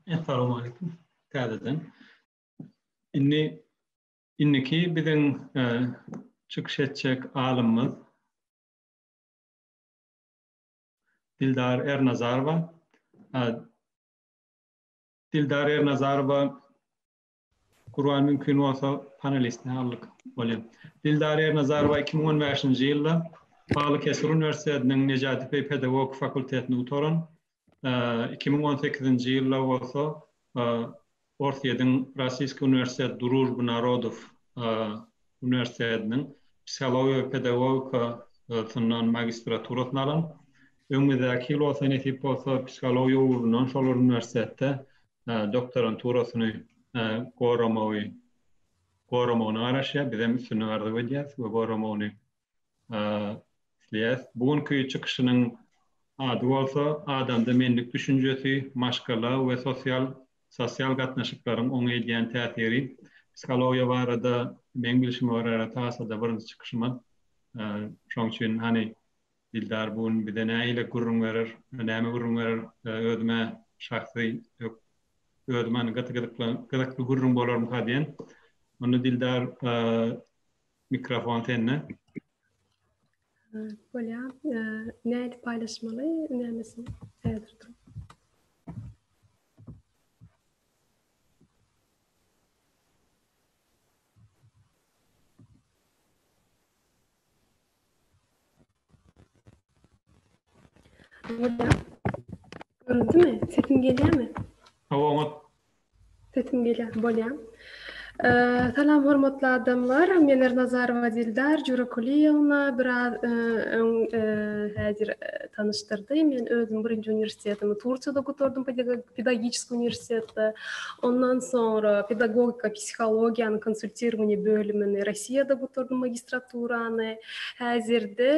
Assalamu alaykum. Täzeden. Indi indiki biziň e, çykyş etjek alymymyz Dildar Ernazarowa. E, Dildar Ernazarowa Gurban mümkin bolsa panelistine aldyk bolýar. Dildar Ernazarowa 2015-nji ýylda Balykesir uniwersitetiniň Nejati Peý pedagogik fakultetini gutaran. 2018-nji ýylda bolsa Orsýetiň Rossiýski uniwersitet Družby narodow uniwersitetiniň psihologiýa we pedagogika yndan magistraturasyny alan. Öňümizdäki ýyl bolsa nesip bolsa psihologiýa ugrundan şol bir uniwersitetde doktoranturasyny goramagy goramagyna garaşýar. Bizem üstünlik arzuw edýäris we goramagyny isleýäs. Bu günki çykyşynyň ady bolsa Adamda menlik düşünjesi, maşgala we sosial sosial gatnaşyklaryň oňa edýän täsiri. Psihologiýa barada meň bilşime görä tasada birinji çykyşymyz. Şoň üçin hany Dildar bu gün bize nähili gürrüň berer, näme gürrüň berer? Özüm-ä şahsy özüm hany gyzykly gürrüň bolarmyka diýen. Onda Dildar Mikrofon sende. Bolýa. Nädip paýlaşmaly? Nämesi? Häzir dur. Bolýa. Göründimi? Sesim gelýärmi? Hawa, oňat. Sesim gelýärmi? Bolýar. Salam hormatly adamlar. Men Ernazarowa Dildar Jurakulyýewna biraz öň häzir tanyşdyrdy. Men özüm birinji uniwersitetimi Turkiýada gutardym, pedagogik uniwersitetde. Ondan soňra pedagogika psihologiýanyň konsultirowaniýa bölümini Russiýada gutardym magistraturany. Häzirde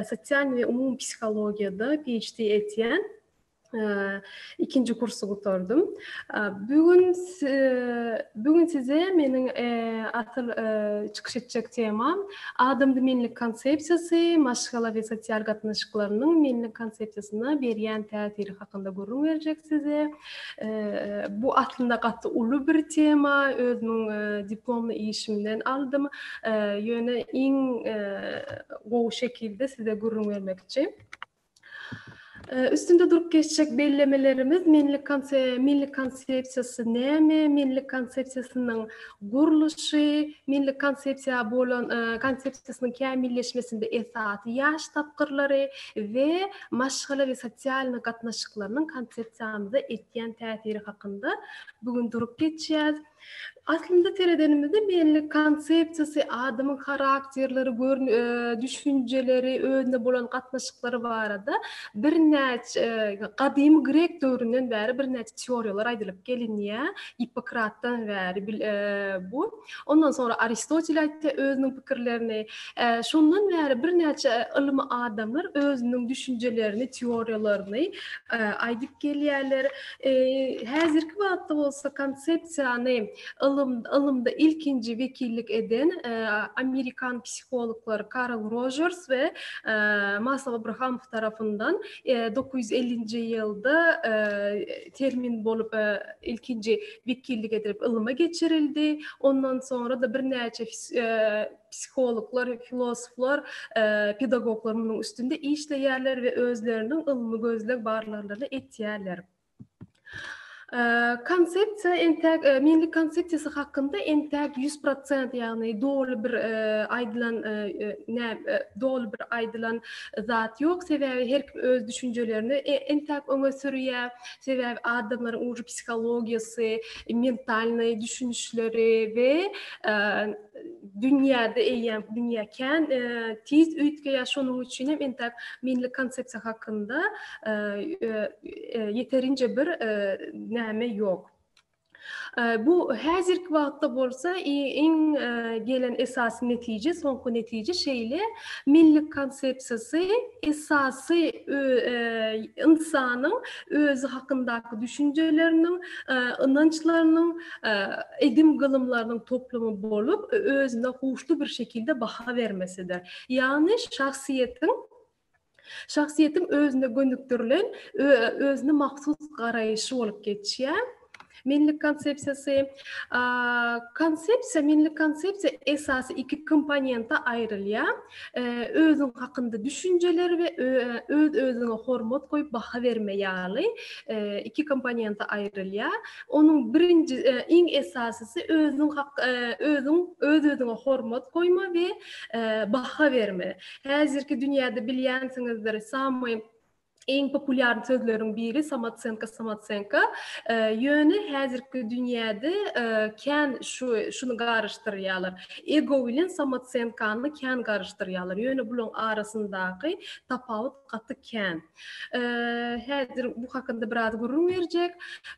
sosial we umumy psihologiýada PHD etýän. ikinji kursy gutardym. Bu gün bu gün size meniň asyl çykyş etjek temam adamda menlik konsepsiýasy, maşgala we sosial gatnaşyklarynyň menlik konsepsiýasyna berýän täsiri hakynda gürrüň berjek size. Bu aslynda gaty uly bir tema, özümiň diplomly işimden aldym. Ýöne iň gowy şekilde size gürrüň bermekçi. Üstünde durup geçjek bellemelerimiz Milli konsepsiýasy näme, Milli konsepsiýasynyň gurluşy, Milli konsepsiýa bolan konsepsiýasynyň kämilleşmesinde esasy ýaş tapgyrlary we maşgala we sosialnyý gatnaşyklarynyň konsepsiýamyza etýän täsiri hakynda bu gün durup geçýäs. Aslynda seredenimizde belli konsepsiýasy, adamyň harakterleri, görn düşünjeleri, özüne bolan gatnaşyklary barada birnäçe gadymy grek döwründen bäri birnäçe teoriýalar aýdylyp gelinýär. Gippokratdan bäri bu. Ondan soňra Aristotel aýtýar özüniň pikirlerini. Şondan bäri birnäçe ylmy adamlar özüniň düşünjelerini, teoriýalaryny aýdyp gelýärler. Häzirki wagtda bolsa konsepsiýany ylym ylymda ilkinji wekillik eden amerikan psihologlary Karl Rojers we Maslow Abrahamow tarapyndan dokuz ýüz ellinji ýylda termin bolup ilkinji wekillik edilip ylma geçirildi. Ondan soňra-da birnäçe psihologlar, filosoflar, pedagoglar munuň üstünde işleýärler we özleriniň ylmy gözleg barlaglaryny etýärler. Konsepsiýa entäk milli konsepsiýasy hakynda entäk 100% ýagny doly bir aýdylan ne doly bir aýdylan zat ýok sebäbi her kim öz düşünjelerini entäk öňe sürýär sebäbi adamlaryň uly psihologiýasy mentalnyý düşünişleri we dünýäde eýýäm dünýä kän e, tiz üýtgeýär şonuň üçin hem entek milli konsepsiýa hakynda e, e, ýeterinje bir näme ýok bu häzirki wagtda bolsa iň gelen esasy netije soňky netije şeýle milli konsepsiýasy esasy insanyň özi hakyndaky düşünjeleriniň, ynançlarynyň, edim-gylymlarynyň toplumy bolup, özüne huşly bir şekilde baha bermesidir. Ýagny şahsyýetiň şahsyýetiň özüne gönükdirilen, özüne mahsus garaýşy bolup geçýär. Menlik konsepsiýasy. Konsepsiýa, menlik konsepsiýa esasy iki komponente aýrylýar. Özüň hakynda düşünjeler we öz-özüňe hormat goýup baha berme ýaly iki komponente aýrylýar. Onuň birinji, iň esasysy özüň özüň öz-özüňe hormat goýma we baha berme. Häzirki dünýäde bilýänsiňizdir, samy Iň populýarn sözleriň biri samocenka samocenka. Ýöne häzirki dünýäde kän şu şuny garyşdyrýarlar. Ego bilen samocenkany kän garyşdyrýarlar. Ýöne bulaň arasyndaky tapawut gaty kän. Häzir bu hakynda biraz gürrüň berjek.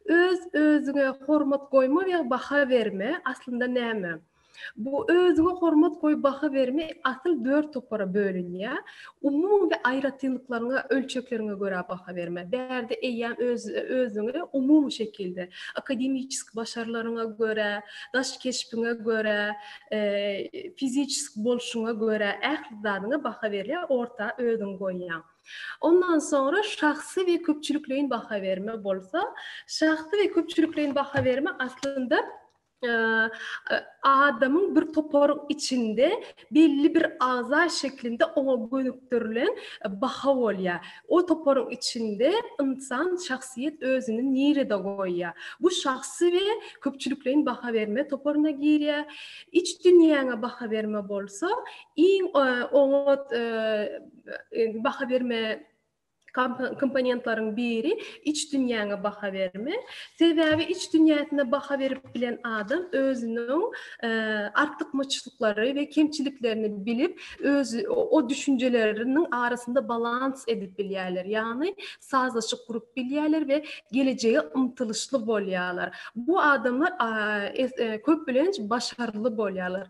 Öz özüňe hormat goýma we baha berme aslynda näme? Bu özüňe hormat goý baha berme asyl dört topara bölünýär. Umumy we aýratynlyklaryňa, ölçekleriňe görä baha berme. Bärde eýýäm öz özüňi umumy şekilde, akademiçeski başarlaryňa görä, daş keşbiňe görä, fiziçeski bolşuňa görä ähli zadyňa baha berilýär, orta özüňi goýýaň. Ondan soňra şahsy we köpçülikleýin baha berme bolsa, şahsy we köpçülikleýin baha berme aslynda adamyň bir toparyň içinde belli bir agza şeklinde oňa gönükdirilen baha bolýar. O toparyň içinde ynsan, şahsyýet özüni nirede goýýar? Bu şahsy we köpçülikleýin baha berme toparyna girýär. Iç dünýäňe baha berme bolsa, iň oňat baha berme Komponentleriň biri iç dünýäňe baha berme. Sebäbi iç dünýäsine baha berip bilen adam özüniň artykmaçlyklary we kemçiliklerini bilip, öz o düşünjeleriniň arasynda balans edip bilýärler. Ýagny sazlaşyk gurup bilýärler we gelejege ymtylyşly bolýarlar. Bu adamlar köplenç başarly bolýarlar.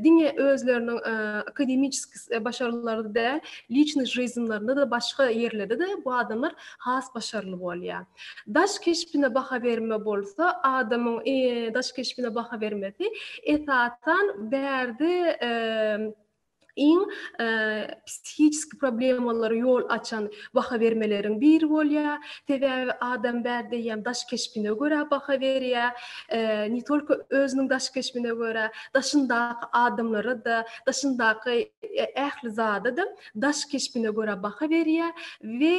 Diňe özleriniň akademiçeski başarylary de liçny žizmlerinde de başga ýerlerde de bu adamlar has başarly bolýar. Daş keşbine baha berme bolsa adamyň daş keşbine baha bermesi esasan bärde iň psihiçski problemalary ýol açan baha bermeleriň biri bolýar. Sebäbi adam bärde ýa daş keşbine görä baha berýär. Ne tolko özüniň daş keşbine görä daşyndaky adamlara da daşyndaky ähli zada-da daş keşbine görä baha berýär we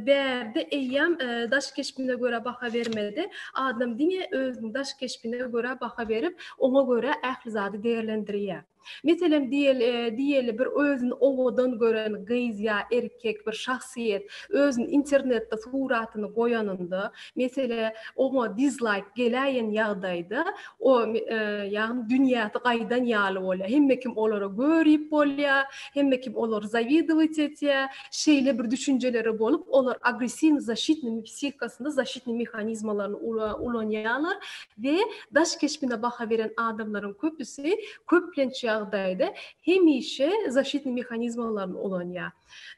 bärde eýýäm daş keşbine görä baha bermedi, adam diňe özüniň daş keşbine görä baha berip, oňa görä ähli zady degerlendirýär. Meselem, diýeli, bir özüni owadan gören gyz ýa erkek, bir şahsyýet özüni internetde suratyny goýanynda, Mesele oňa dizlaýk geläýen ýagdaýda o ýagny dünýäsi gaýdan ýaly bolýar. Hemme kim olara görip bolýar, hemme kim olar zawidowit etýär. Şeýle bir düşünjeleri bolup olar agressiwny zaşitnymi psihikasynda zaşitnyý mehanizmalaryny ulanýarlar we daş keşbine baha beren adamlaryň köpüsi köplenç ýagdaýda hemişe zaşitnyý mehanizmalaryny ulanýar.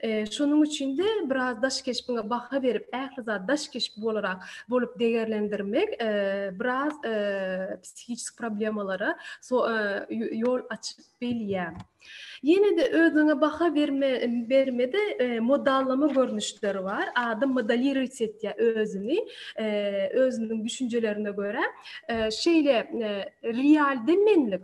Şonuň üçin-de biraz daş keşbiňe baha berip, ähli zady daş keşbi bolarak bolup degerlendirmek biraz psihiki problemalara ýol açyp bilýär. Ýene-de özüňe baha berme bermede modallama görnüşleri bar. Adam modelirować etýär özüni, özüniň düşünjelerine görä. Şeýle realde menlik,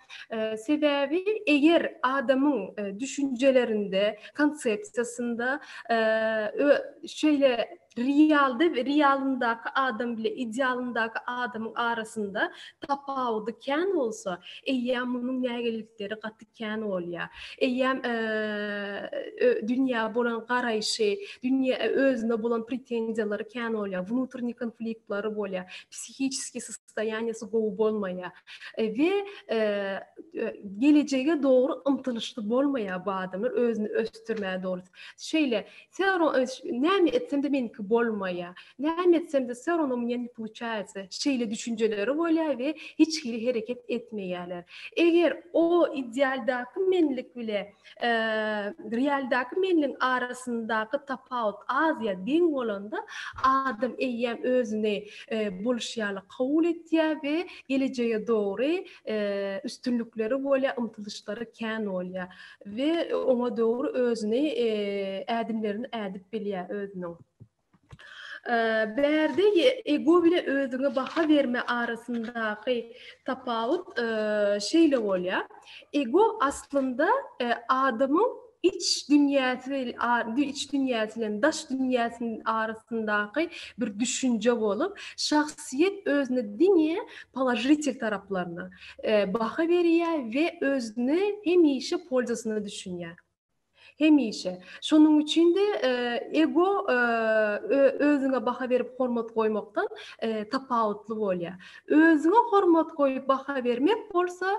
Sebäbi eger adamyň düşünjelerinde, konsepsiýasynda şeýle realda we realyndaky adam bilen idealyndaky adamyň arasynda tapawudy kän bolsa, eýýäm munuň nägilelikleri gaty kän bolýar. Eýýäm dünýä bolan garaýşy, dünýä özüne bolan pretenziýalary kän bolýar, wnutrnýi konfliktleri bolýar, psihiçeskiý sostoýaniýasy gowy bolmaýar we gelejege dogry ymtylyşly bolmaýar bu adamlar, özüni ösdürmäge dogry. Şeýle, Wse ro näme etsem-de meniki bolmaýar, näme etsem-de wse ro no mne ne poluçaýatsa şeýle düşünjeleri bolýar we hiç hili hereket etmeýärler. Eger o idealdaky menlik bile Realdaky menliň arasyndaky tapawut azýa deň bolanda, adam eýýäm özüni bolşy ýaly kabul etýär we gelejege dogry üstünlikleri bolýar, ymtylyşlary kän bolýar we oňa dogry özüni ädimlerini ädip bilýär özüniň. Bärde ego bilen özüňe baha berme arasyndaky tapawut şeýle bolýar. Ego aslynda adamyň iç dünýäsi bilen iç dünýäsi bilen daş dünýäsiniň arasyndaky bir düşünje bolup, şahsyýet özüne diňe položitel taraplaryna baha berýär we özüni hemişe polzasyna düşünýär. Hemişe. Şonuň üçin-de ego özüňe baha berip hormat goýmakdan tapawutly bolýar. Özüňe hormat goýup baha bermek bolsa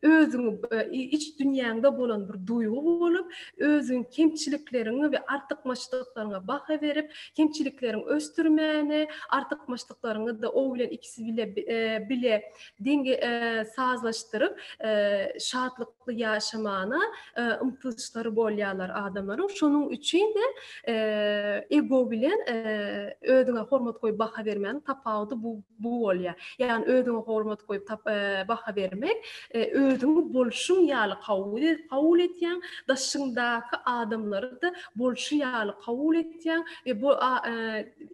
özüňi iç dünýäňde bolan bir duýgy bolup, özüň kemçilikleriňi we artykmaçlyklaryňy baha berip, kemçilikleriňi ösdürmäni, artykmaçlyklaryňy-da o bilen ikisi bile deňe sazlaşdyryp, şatlyk sagdynlykly ýaşamagyna ymtylyşlary bolýarlar adamlaryň. Şonuň üçin-de ego bilen özüňe hormat goýup baha bermegiň tapawudy bu bu bolýar. Ýagny özüňe hormat goýup baha bermek özüňi bolşuň ýaly kabul etýäň, daşyňdaky adamlary-da bolşy ýaly kabul etýäň we bu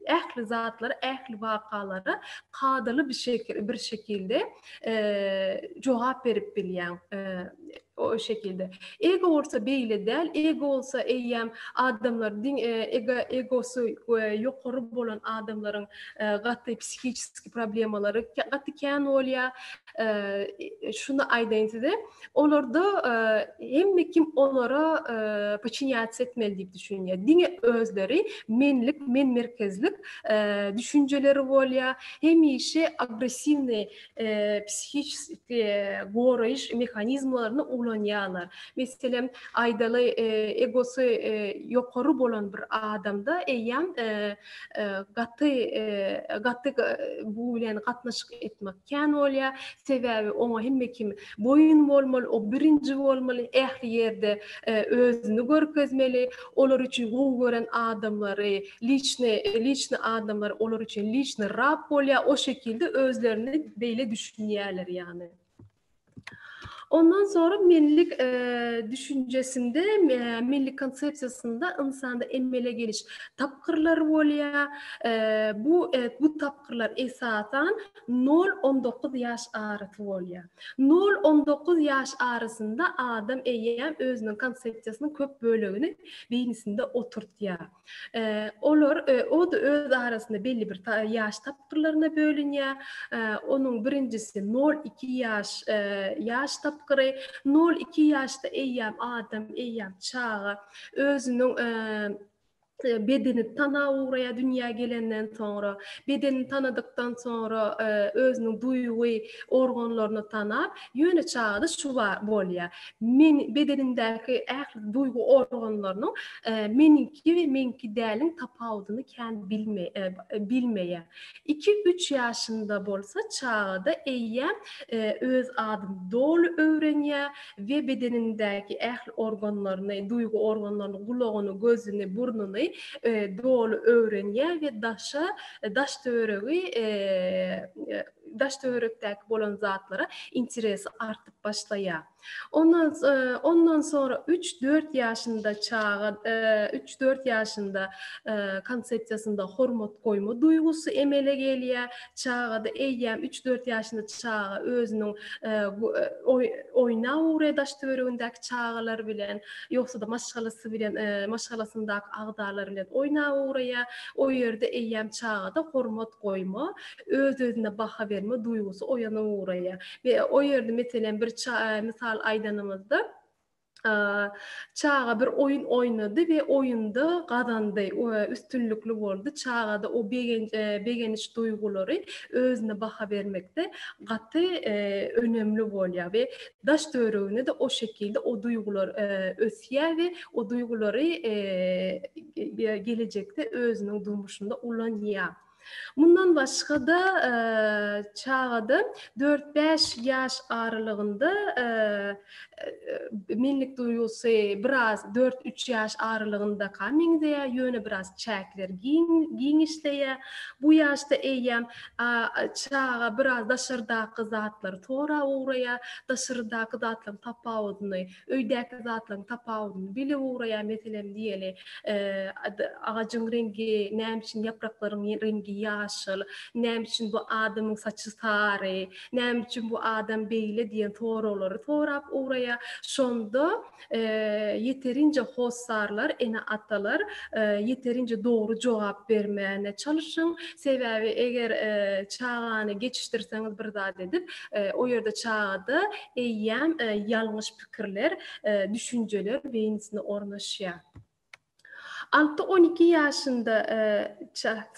ähli zatlara, ähli wakalara kadaly bir şekilde jogap berip bilýäň o şekilde. Ego bolsa beýle däl, ego bolsa eýýäm adamlar diň e, ego egosy e, ýokary bolan adamlaryň e, gaty psihiki problemalary gaty kän bolýar. Şuny aýdaýyn size, Olarda hemme kim olara poçinýatsiýa etmeli diýip düşünýär. Diňe özleri menlik, men merkezlik düşünjeleri bolýar. Hemişe agressiwny psihiki goraýyş mehanizmlerini ulanýarlar. Meselem, aýdaly, egosy ýokary bolan bir adamda eýýäm gaty gaty bu bilen gatnaşyk etmek kän bolýar. Sebäbi oňa hemme kim boýun bolmaly, o birinji bolmaly, ähli ýerde özüni görkezmeli. Olar üçin gowy gören adamlary, liçny liçny adamlar olar üçin liçny rap bolýar. O şekilde özlerini beýle düşünýärler ýagny. Ondan soňra menlik düşünjesinde, menlik konsepsiýasynda ynsanda emele geliş tapgyrlary bolýar. Bu bu tapgyrlar esasan nol-on dokuz ýaş arasy bolýar. Nol-on dokuz ýaş arasynda adam eýýäm özüniň konsepsiýasynyň köp bölegini beýnisinde oturtýar. Olar öz arasynda belli bir ýaş tapgyrlaryna bölünýär. Onuň birinjisi nol iki ýaş ýaş tapgyry. Nol iki ýaşda eýýäm adam, eýýäm çaga özüniň bedeni tana ugraýar dünýä gelenden soňra. Bedenini tanadykdan soňra özüniň duýgy organlaryny tanap, Ýöne çagada şu bar bolýar. Men bedenindäki ähli duýgy organlarynyň meniňki we meňki däliň tapawudyny kän bilmeýär. Iki-üç ýaşynda bolsa çagada eýýäm öz adyny doly öwrenýär we bedenindäki ähli organlaryny, duýgy organlaryny, gulagyny, gözüni, burnuny doly öwrenýär we daşa, daş-töweregi daş-töwerekdäki bolan zatlara interesi artyp başlaýar. Ondan ondan soňra üç-dört ýaşynda çaga üç-dört ýaşynda konsepsiýasynda hormat goýma duýgusy emele gelýär. Çagada eýýäm üç-dört ýaşynda çaga özüniň oýnap ugraýar daş-töweregindäki çagalar bilen, ýogsa-da maşgalasy bilen maşgalasyndaky agzalar bilen oýnap ugraýar. O ýerde eýýäm çagada hormat goýma öz-özüne baha berme duýgusy oýana ugraýar. Be, o ýerde, meselem, bir ça, mysal aýdanymyzda, çaga bir oýun oýnady we oýunda gazandy, we üstünlikli boldy. Çagada o begenç, e, begeniş duýgulary özüne baha bermekde gaty, e, önemli bolýar we daş-töweregine-de o şekilde o duýgular, e, ösýär we o duýgulary, e, e, gelejekde özüniň durmuşynda ulanýar. Mundan başga-da, çagada dört-bäş ýaş aralygynda menlik duýgusy biraz dört-üç ýaş aralygyndaka meňzeýär, ýöne biraz çäkler giň, giň işleýär. Bu ýaşda eýýäm çaga biraz daşardaky zatlary sorap ugraýar, daşardaky zatlaryň tapawudyny Öýdäki zatlaryň tapawudyny bilip ugraýar, meselem diýeli, agajyň reňgi näme üçin ýapraklaryň reňgi ýaşyl, näme üçin bu adamyň saçy sary, näme üçin bu adam beýle diýen soraglary sorap ugraýar. Şonda ýeterinje hossarlar, ene-atalar ýeterinje dogry jogap bermäne çalyşyň. Sebäbi eger çagany geçişdirseňiz bir zat edip, O ýerde çagada eýýäm ýalňyş pikirler, düşünjeler beýnisine ornaşýar. Alty-on iki ýaşynda,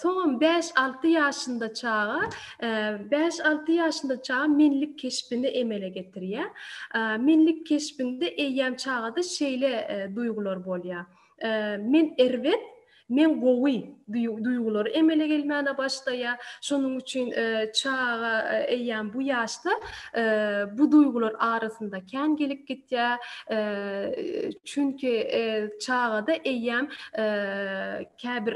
soňam bäş-alty ýaşynda çaga, bäş-alty ýaşynda çaga menlik keşbini emele getirýär. Menlik keşbinde eýýäm çagada şeýle duýgular bolýar. Men erbet, men gowy duýgulary emele gelmäne başlaýar. Şonuň üçin çaga eýýäm bu ýaşda bu duýgular arasynda kän gelip gitýär. Çünki çagada eýýäm käbir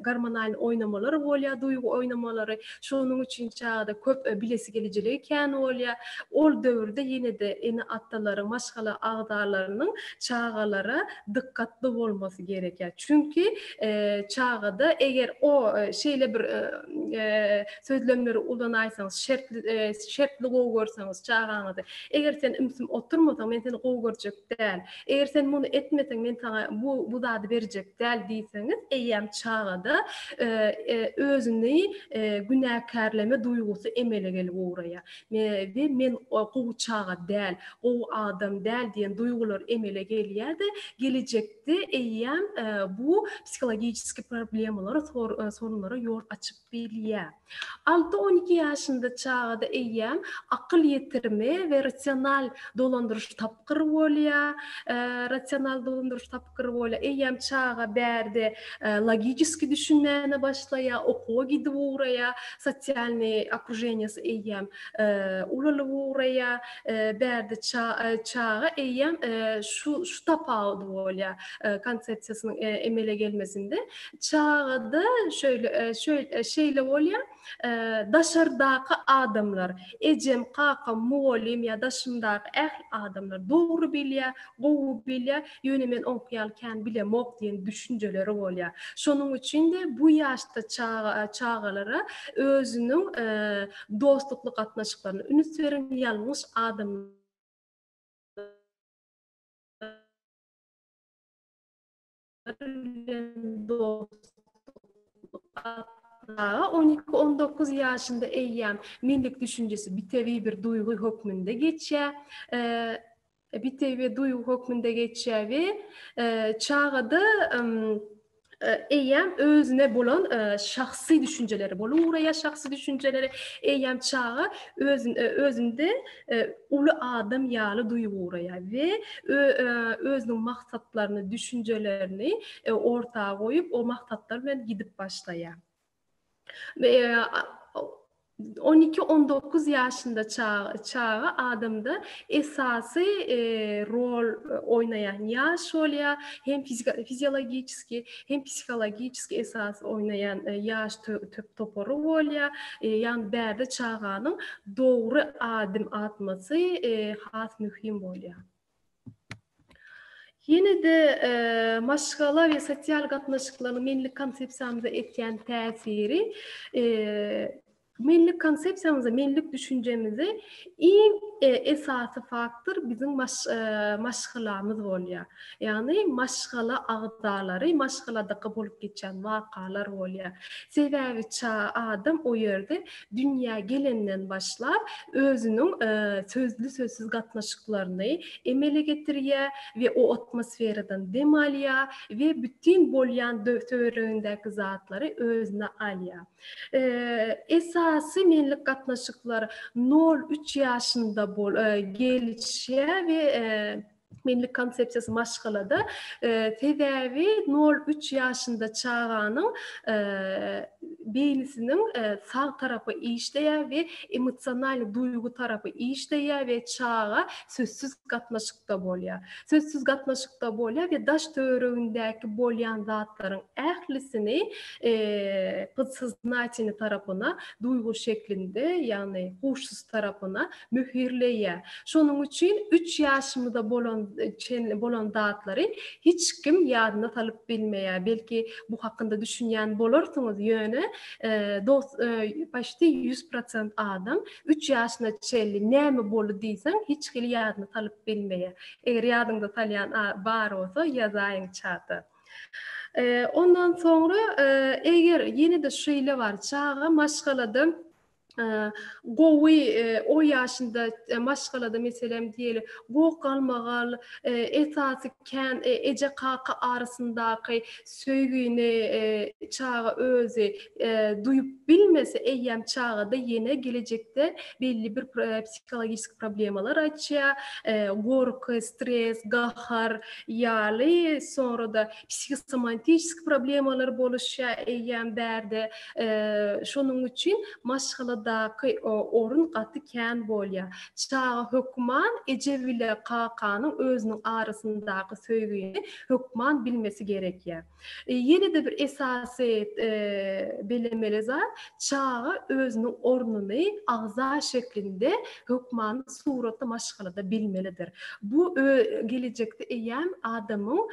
gormonalny oýnamalar bolýar, duýgy oýnamalary. Şonuň üçin çagada köp bilesi gelijiligi kän bolýar. Ol döwürde ýene-de ene-atalaryň, maşgala agzalarynyň çagalara dykgatly bolmasy gerekýär. Çünki çagada eger o şeýle bir sözlemleri ulanaýsaňyz, şertli gowy görseňiz çagaňyzy, eger sen ümsüm oturmasaň, men seni gowy görjek däl. Eger sen muny etmeseň men saňa bu bu zady berjek däl diýseňiz, eýýäm çagada özüni günäkärleme duýgusy emele gelip ugraýar. We men gowy çaga däl, gowy adam däl diýen duýgular emele gelýär-de, gelejekde eýýäm bu psihologiçeski problemalary, sorunlara ýol açyp. bilýär. Alty-on iki ýaşynda çagada eýýäm akyl ýetirimi we rasional dolandyryş tapgyry bolýar. Rasional dolandyryş tapgyry bolýar. Eýýäm çaga bärde logiçeski düşünmäne başlaýar, okuwa gidip ugraýar, sosialnyý okrujeniýasy eýýäm ulalyp ugraýar. Bärde çaga eýýäm şu şu tapawudy bolýar konsepsiýasynyň emele gelmesinde. Çagada şöýle şöýle şeýle bolýar, daşardaky adamlar, ejem, kakam, mugallym ýa daşymdaky ähli adamlar dogry bilýär, gowy bilýär, ýöne men oňky ýaly kän bilemok diýen düşünjeleri bolýar. Şonuň üçin-de bu ýaşda çaga çagalara özüniň dostlukly gatnaşyklaryna üns beriň, ýalňyş adam Ýaşlar bilen dostluk atlaga on iki, on dokuz ýaşynda eýýäm menlik düşünjesi bitewi bir duýgy hökmünde geçýär, bitewi bir duýgy hökmünde geçýär we çagada eýýäm özüne bolan şahsy düşünjeleri bolup ugraýar, şahsy düşünjeleri eýýäm çaga özünde uly adam ýaly duýguraýar we özüniň maksatlaryny, düşünjelerini orta goýup, o maksatlar bilen gidip başlaýar. We on iki, on dokuz ýaşynda çaga adamda esasy rol oýnaýan ýaş bolýar, hem fiziologiki, hem psihologiçeski esas oýnaýan ýaş töp topary bolýar. Ýagny bärde çaganyň dogry adym atmasy has möhüm bolýar. Ýene-de maşgala we sosial gatnaşyklaryň menilik konsepsiýamyza etýän täsiri Millilik konsepsiýamyzy, millilik düşünjemizi iň esasy faktor biziň maşgalamyz bolýar. Ýagny maşgala agzalary, maşgaladaka bolup geçýän wakalar bolýar. Sebäbi adam o ýerde dünýä gelenden başlap özüniň sözli-sözsüz gatnaşyklaryny emele getirýär we o atmosferadan dem alýar we bütin bolýan töweregindäki zatlary özüne alýar. Esasy menlik gatnaşyklar nol üç ýaşynda gelişýä we menlik konsepsiýasy maşgalada sebäbi nol üç ýaşynda çaganyň beýnisiniň sag tarapy işleýä we emosionalny duýgy tarapy işleýä we çaga sözsüz gatnaşykda bolýa sözsüz gatnaşykda bolýa we daş töweregindäki bolýan zatlaryň ählisini podsoznatini tarapyna duýgy şeklinde, ýagny huşsyz tarapyna möhürleýär. Şonuň üçin üç ýaşymyza bolan çenli bolan zatlary hiç kim ýadyna salyp bilmeýär. Belki bu hakynda düşünýän bolarsyňyz, ýöne dos paşti ýüz prosent adam üç ýaşyna çenli näme boldy diýseň hiç hili ýadyna salyp bilmeýär. Eger ýadyňyza salýan bar bolsa ýazaýyň çata. Ondan soňra eger ýene-de şeýle bar çaga maşgalada gowy o ýaşynda maşgalada meselem diýeli goh galmagal esasy kän eje kaka arasyndaky söýgini çaga özi duýup bilmese eýýäm çagada ýene gelejekde belli bir psihologisk problemalar açýar gorky stres gahar ýaly, soňra-da psihosomantiski problemalar boluşýar eýýäm bärde. Şonuň üçin maşgaladaky orun gaty kän bolýar. Çaga hökman eje bile kakanyň özüniň arasyndaky söýgini hökman bilmesi gerekýär. Ýene-de bir esasy bellemeli zat, çaga özüniň ornuny agza şeklinde hökmany suratda maşgalada bilmelidir. Bu gelejekde eýýäm adamyň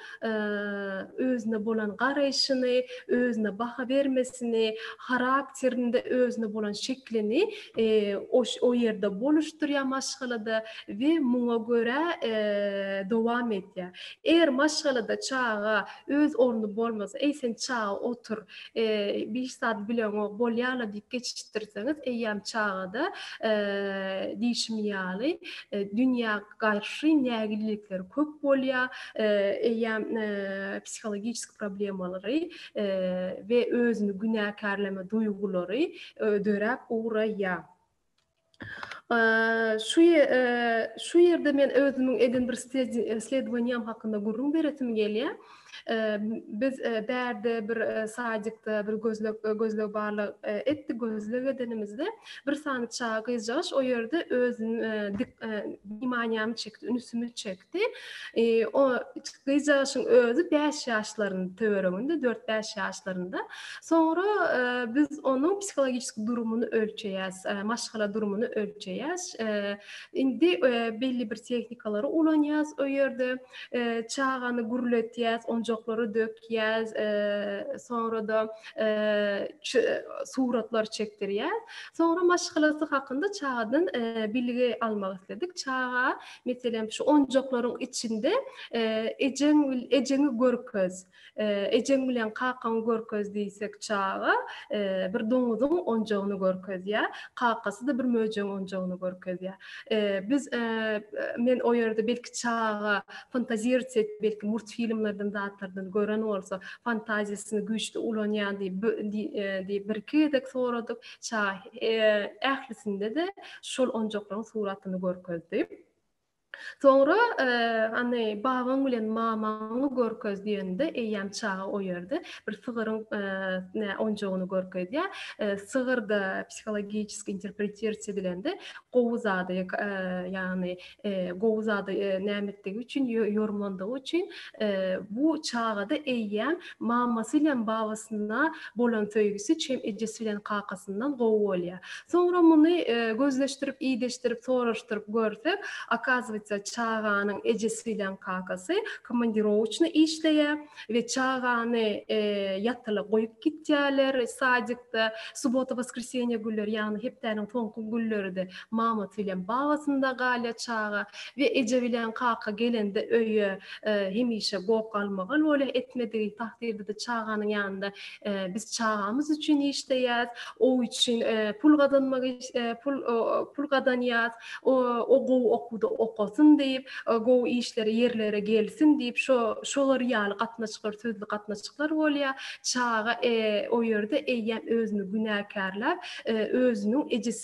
özüne bolan garaýşyny, özüne baha bermesini, harakterinde özüne bolan şeklini o ýerde boluşdurýar maşgalada we muňa görä dowam edýär. Eger maşgalada çaga öz orny bolmasa, Eý, sen çaga otur, hiç zat bileňok, bolýa-la diýip geçişdirseňiz, eýýäm çaga-da, diýşim ýaly, dünýä garşy nägillikleri köp bolýar, eýýäm psihologiki problemalary we özüni günäkärleme duýgulary döräp ugraýýar. Şu şu ýerde men özümiň eden bir isledowaniýam hakynda gürrüň beresim gelýär. Biz bärde bir sadikde bir gözleg gözleg barlag etdik. Gözleg edenimizde bir sany çaga gyzjagaş o ýerde özüni dik wimaniýamy çekdi, ünsümi çekdi. O gyzjagaşyň özi bäş ýaşlarynyň töwereginde, dört-bäş ýaşlarynda. Soňra biz onuň psihologiki durumyny ölçeýäs, maşgala durumyny ölçeýäs. Indi belli bir tehnikalary ulanýas o ýerde. Çagany gürletýäs, onjaklary dökýäs, soňra-da suratlar çekdirýäs. Soňra maşgalasy hakynda çagadan bilgi almak isledik. Çaga Meselem, şu onjaklaryň içinde ejeň ejeňi görkez, ejeň bilen kakaňy görkez diýsek çaga bir doňuzyň onjagyny görkezýär, kakasy-da bir möjegiň onjagyny görkezýär. Biz men o ýerde belki çaga fantazirat edip, belki multfilmlerden zatlardan gören bolsa, fantaziýasyny güýçli ulanýar diýip diýip birki gezek soradyk. Çaga ählisinde-de şol onjaklaryň suratyny görkezdi. Soňra hany babaň bilen mamaňy görkez diýende eýýäm çaga o ýerde bir sygyryň ne onjagyny görkezýär. Sygyr da psihologiki interpretirsiýa edilende gowy zady ýagny gowy zada näme etdigi üçin, ýormandygy üçin bu çagada eýýäm mamasy bilen babasyna bolan söýgüsi çem ejesi bilen kakasyndan gowy bolýar. Soňra muny gözleşdirip, ideşdirip, soraşdyryp görsek, okazywatsa çaganyň ejesi bilen kakasy komandirowaçny işleýär we çagany ýatyla goýup gitýärler sadikde, subota-woskresiýenýe günleri, ýagny hepdäniň soňky günleride Mama bilen babasynda galýa çaga we eje bilen kaka gelende öýe hemişe goh-galmagal bolýa etmedigi takdyrdada çaganyň ýanynda biz çagamyz üçin işleýäs o üçin pul gazanmak pul gazanýas o gowy okuwda okasyn diýip gowy işlere ýerlere gelsin diýip şo şolar ýaly gatnaşyklar sözli gatnaşyklar bolýa çaga o ýerde eýýäm özüni günäkärläp özüniň ejesi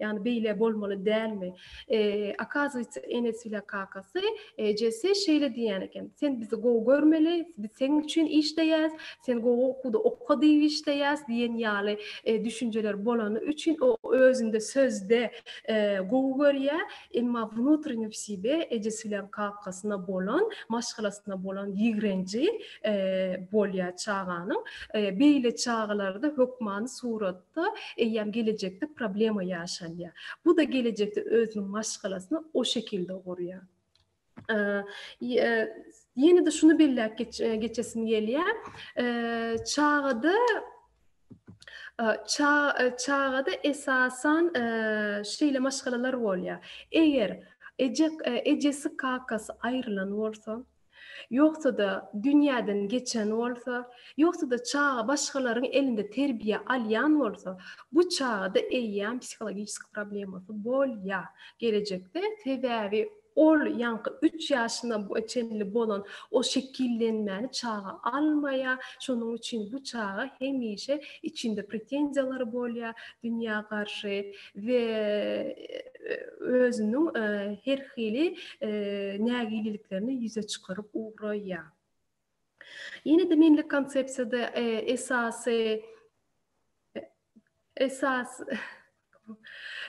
Ýagny beýle bolmaly dälmi? Okazywýetsa, Enes bilen kakasy Jesse şeýle diýýän eken, Sen bizi gowy görmeli, biz seň üçin işleýäs, sen gowy okuwda oka diýip işleýäs diýen ýaly düşünjeler bolany üçin o özünde sözde gowy görýär, emma wnutrennýi w sibe ejesi bilen kakasyna bolan, maşgalasyna bolan ýigrenji bolýar çaganyň. Beýle çagalarda hökmany surat. bolsa-da, eýýäm gelejekde problema ýaşalýar. Bu-da gelejekde özüniň maşgalasyny o şekilde gurýar. Ýene-de şuny belläp geçesim gelýär. Çagada çagada esasan şeýle maşgalalar bolýar. Eger eje ejesi kakasy aýrylan bolsa, ýogsa-da dünýäden geçen bolsa, ýogsa-da çaga başgalaryň elinde terbiýe alýan bolsa, bu çagada eýýäm psihologiski problemasy bolýar gelejekde, sebäbi ol ýaňky üç ýaşyna çenli bolan o şekillenmäni çaga almaýar, şonuň üçin bu çaga hemişe içinde pretenziýalary bolýar dünýä garşy. we özüniň her hili nägileliklerini ýüze çykaryp ugraýar. Ýene-de menlik konsepsiýada esasy esas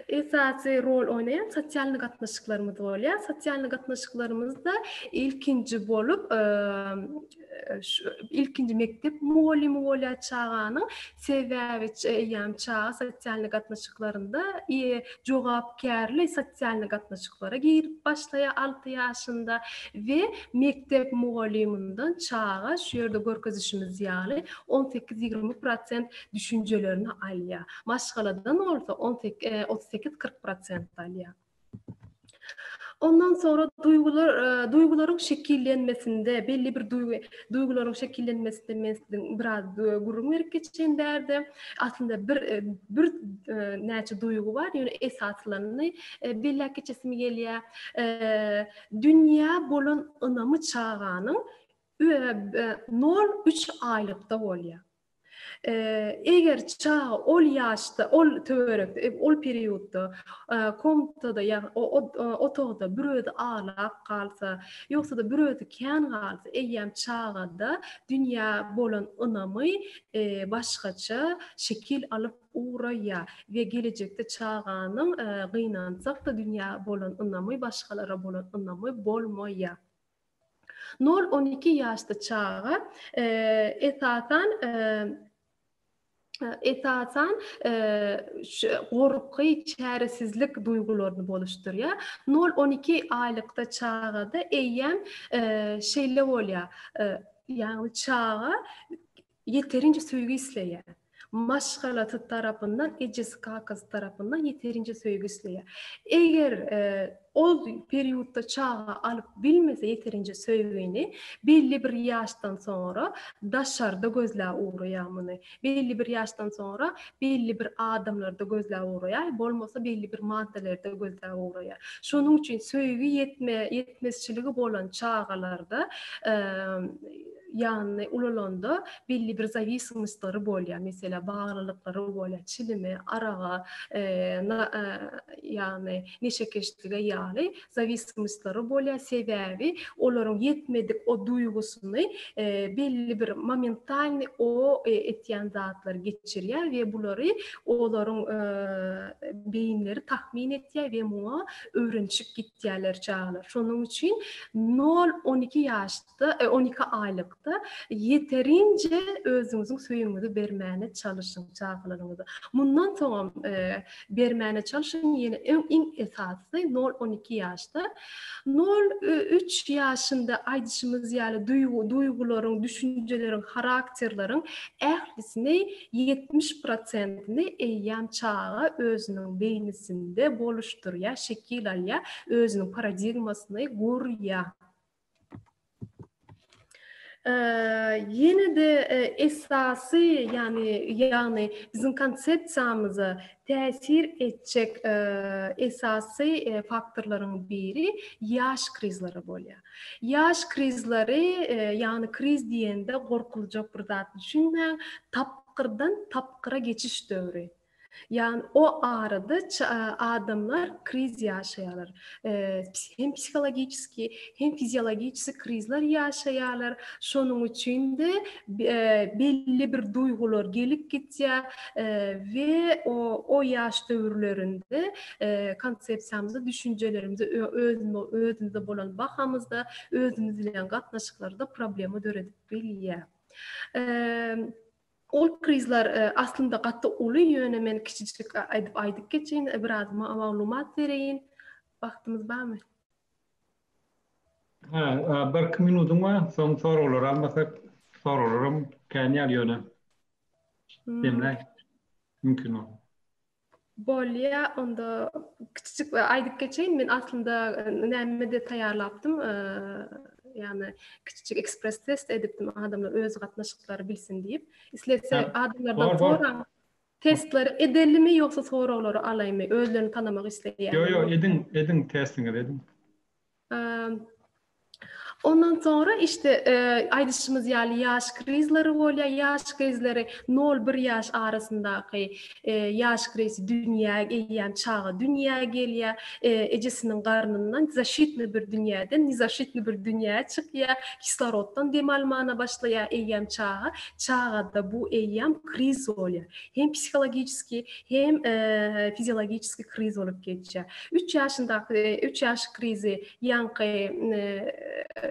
esasy rol oýnaýan sosialny gatnaşyklarymyz bolýar. Sosialny gatnaşyklarymyzda ilkinji bolup ilkinji mekdep mugallymy bolýar çaganyň sebäbi eýýäm çaga sosial gatnaşyklarynda jogapkärli sosial gatnaşyklara girip başlaýar alty ýaşynda we mekdep mugallymyndan çaga şu ýerde görkezişimiz ýaly on sekiz ýigrimi prosent düşünjelerini alýar maşgaladan bolsa on sekiz otuz sekiz kyrk prosent alýar Ondan soňra duýgular, duýgularyň şekillenmesinde, belli bir duýgy, duýgularyň şekillenmesinde men siziň biraz gürrüň berip geçeýin bärde. Aslynda bir bir näçe duýgy bar, ýöne esasylaryny belläp geçesim gelýär. Dünýä bolan ynamy çaganyň nol üç aýlykda bolýar. Eger çaga ol ýaşda, ol töwerekde, ol periodda komnatada, ýagny otagda bir özi aglap galsa, ýogsa-da bir özi kän galsa, eýýäm çagada dünýä bolan ynamy başgaça şekil alyp ugraýar we gelejekde çaganyň gynansak-da dünýä bolan ynamy, başgalara bolan ynamy bolmaýar. Nol-on iki ýaşly çaga esasan esasan gorky, çäresizlik duýgularyny boluşdurýar. Nol-on iki aýlykda çagada eýýäm şeýle bolýar, ýagny çaga Ýeterinje söýgi isleýär. Maşgalasy tarapyndan, ejesi-kakasy tarapyndan ýeterinje söýgi isleýär. Eger ol periodda çaga alyp bilmese ýeterinje söýgini, belli bir ýaşdan soňra daşarda gözläp ugraýar muny. Belli bir ýaşdan soňra belli bir adamlarda gözläp ugraýar, bolmasa belli bir maddalarda gözläp ugraýar. Şonuň üçin söýgi ýetme, ýetmezçiligi bolan çagalarda ýanyny ulalanda belli bir zawismostlary bolýar, meselä baglylyklary bolýar, çilime, araga, ýagny neşekeşlige ýaly zawismostlary bolýar, sebäbi olaryň ýetmedik o duýgusyny belli bir momentalnyý o etýän zatlar geçirýär we bulary olaryň beýinleri tahmin etýär we muňa öwrenişip gitýärler çagalar. Şonuň üçin nol-on iki ýaş on iki aýlykda ýeterinje özüňiziň söýüňizi bermäne çalyşyň çagalaryňyza. Mundan soňam bermäne çalyşyň, ýene iň esasy nol on iki ýaşda. Nol üç ýaşynda aýdyşymyz ýaly duýgularyň, düşünjeleriň, harakterleriň ählisini ýetmiş prosentini eýýäm çaga özüniň beýnisinde boluşdyrýar, şekil alýar, özüniň paradigmasyny gurýar. Ýene de esasy, ýagny ýagny biziň konsepsiýamyza täsir etjek esasy faktorlaryň biri ýaş krizleri bolýar. Ýaş krizleri, ýagny kriz diýende gorkuljak bir zat düşünmäň, tapgyrdan tapgyra geçiş döwri. Ýagny o arada adamlar kriz ýaşaýarlar. Hem psihologiki, hem fiziologiki krizler ýaşaýarlar. Şonuň üçin-de belli bir duýgular gelip gitýär we o o ýaş döwürlerinde konsepsiýamyzy, düşünjelerimizi özümize bolan bahamyzda, özümiz bilen gatnaşyklarda problema döredip bilýär. Ol prizler aslynda gaty uly ýöne men kiçijik aýdyp aýdyp geçeýin biraz maglumat bereýin wagtymyz barmy? Hä birki minudyň bar soň soraglary almasak soraglaram kän ýaly ýöne. Demläý mümkin bol. Bolýa, onda kiçijik aýdyp geçeýin. Men aslynda näme-de taýýarlapdym. Ýagny kiçijik ekspres test edipdim adamlar öz gatnaşyklary bilsin diýip. Islese adamlardan soraň. Testleri edelimi ýogsa soraglary alaýmy? Özlerini tanamak isleýärler. Ýok, ýok, ediň, ediň testiňizi ediň. Ondan sonra işte e, aýdyşymyz ýaly ýaş krizleri bolýar. Ýaş krizleri 0-1 ýaş arasyndaky e, ýaş krizi dünýä eýýäm çaga dünýä gelýär. E, ejesiniň garnyndan zaşitni bir dünýäden nizaşitni bir dünýä çykýar. Kisloroddan dem almana başlaýar eýýäm çaga. Çagada bu eýýäm kriz bolýar. Hem psihologiki, hem e, fiziologiki kriz bolup geçýär. Üç ýaşyndaky üç ýaş krizi ýaňky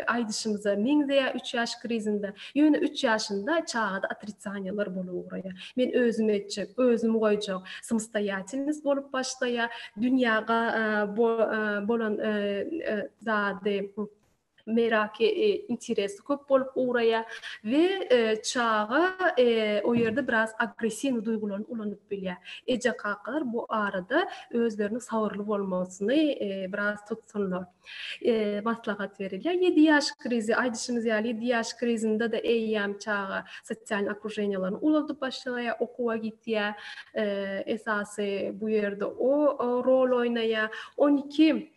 aýdyşymyza meňzeýär. Üç ýaş krizinde, ýöne üç ýaşynda çagada otritsaniýalar bolup ugraýar. Men özüm etjek, özüm goýjak, samostoýatelnost bolup başlaýar. Dünýä bolan zady meraky, interesi köp bolup ugraýar we çaga o ýerde biraz agressiwnyý duýgularyny ulanyp bilýär. Eje-kakalar bu arada özleriniň sabyrly bolmagyny biraz tutsunlar. Maslahat berilýär. Ýedi ýaş krizi, aýdyşymyz ýaly, ýedi ýaş krizinde-de eýýäm çaga sosialnyý okruženiýalaryny uladyp başlaýar, okuwa gidýär. Esasy bu ýerde o rol oýnaýar. On iki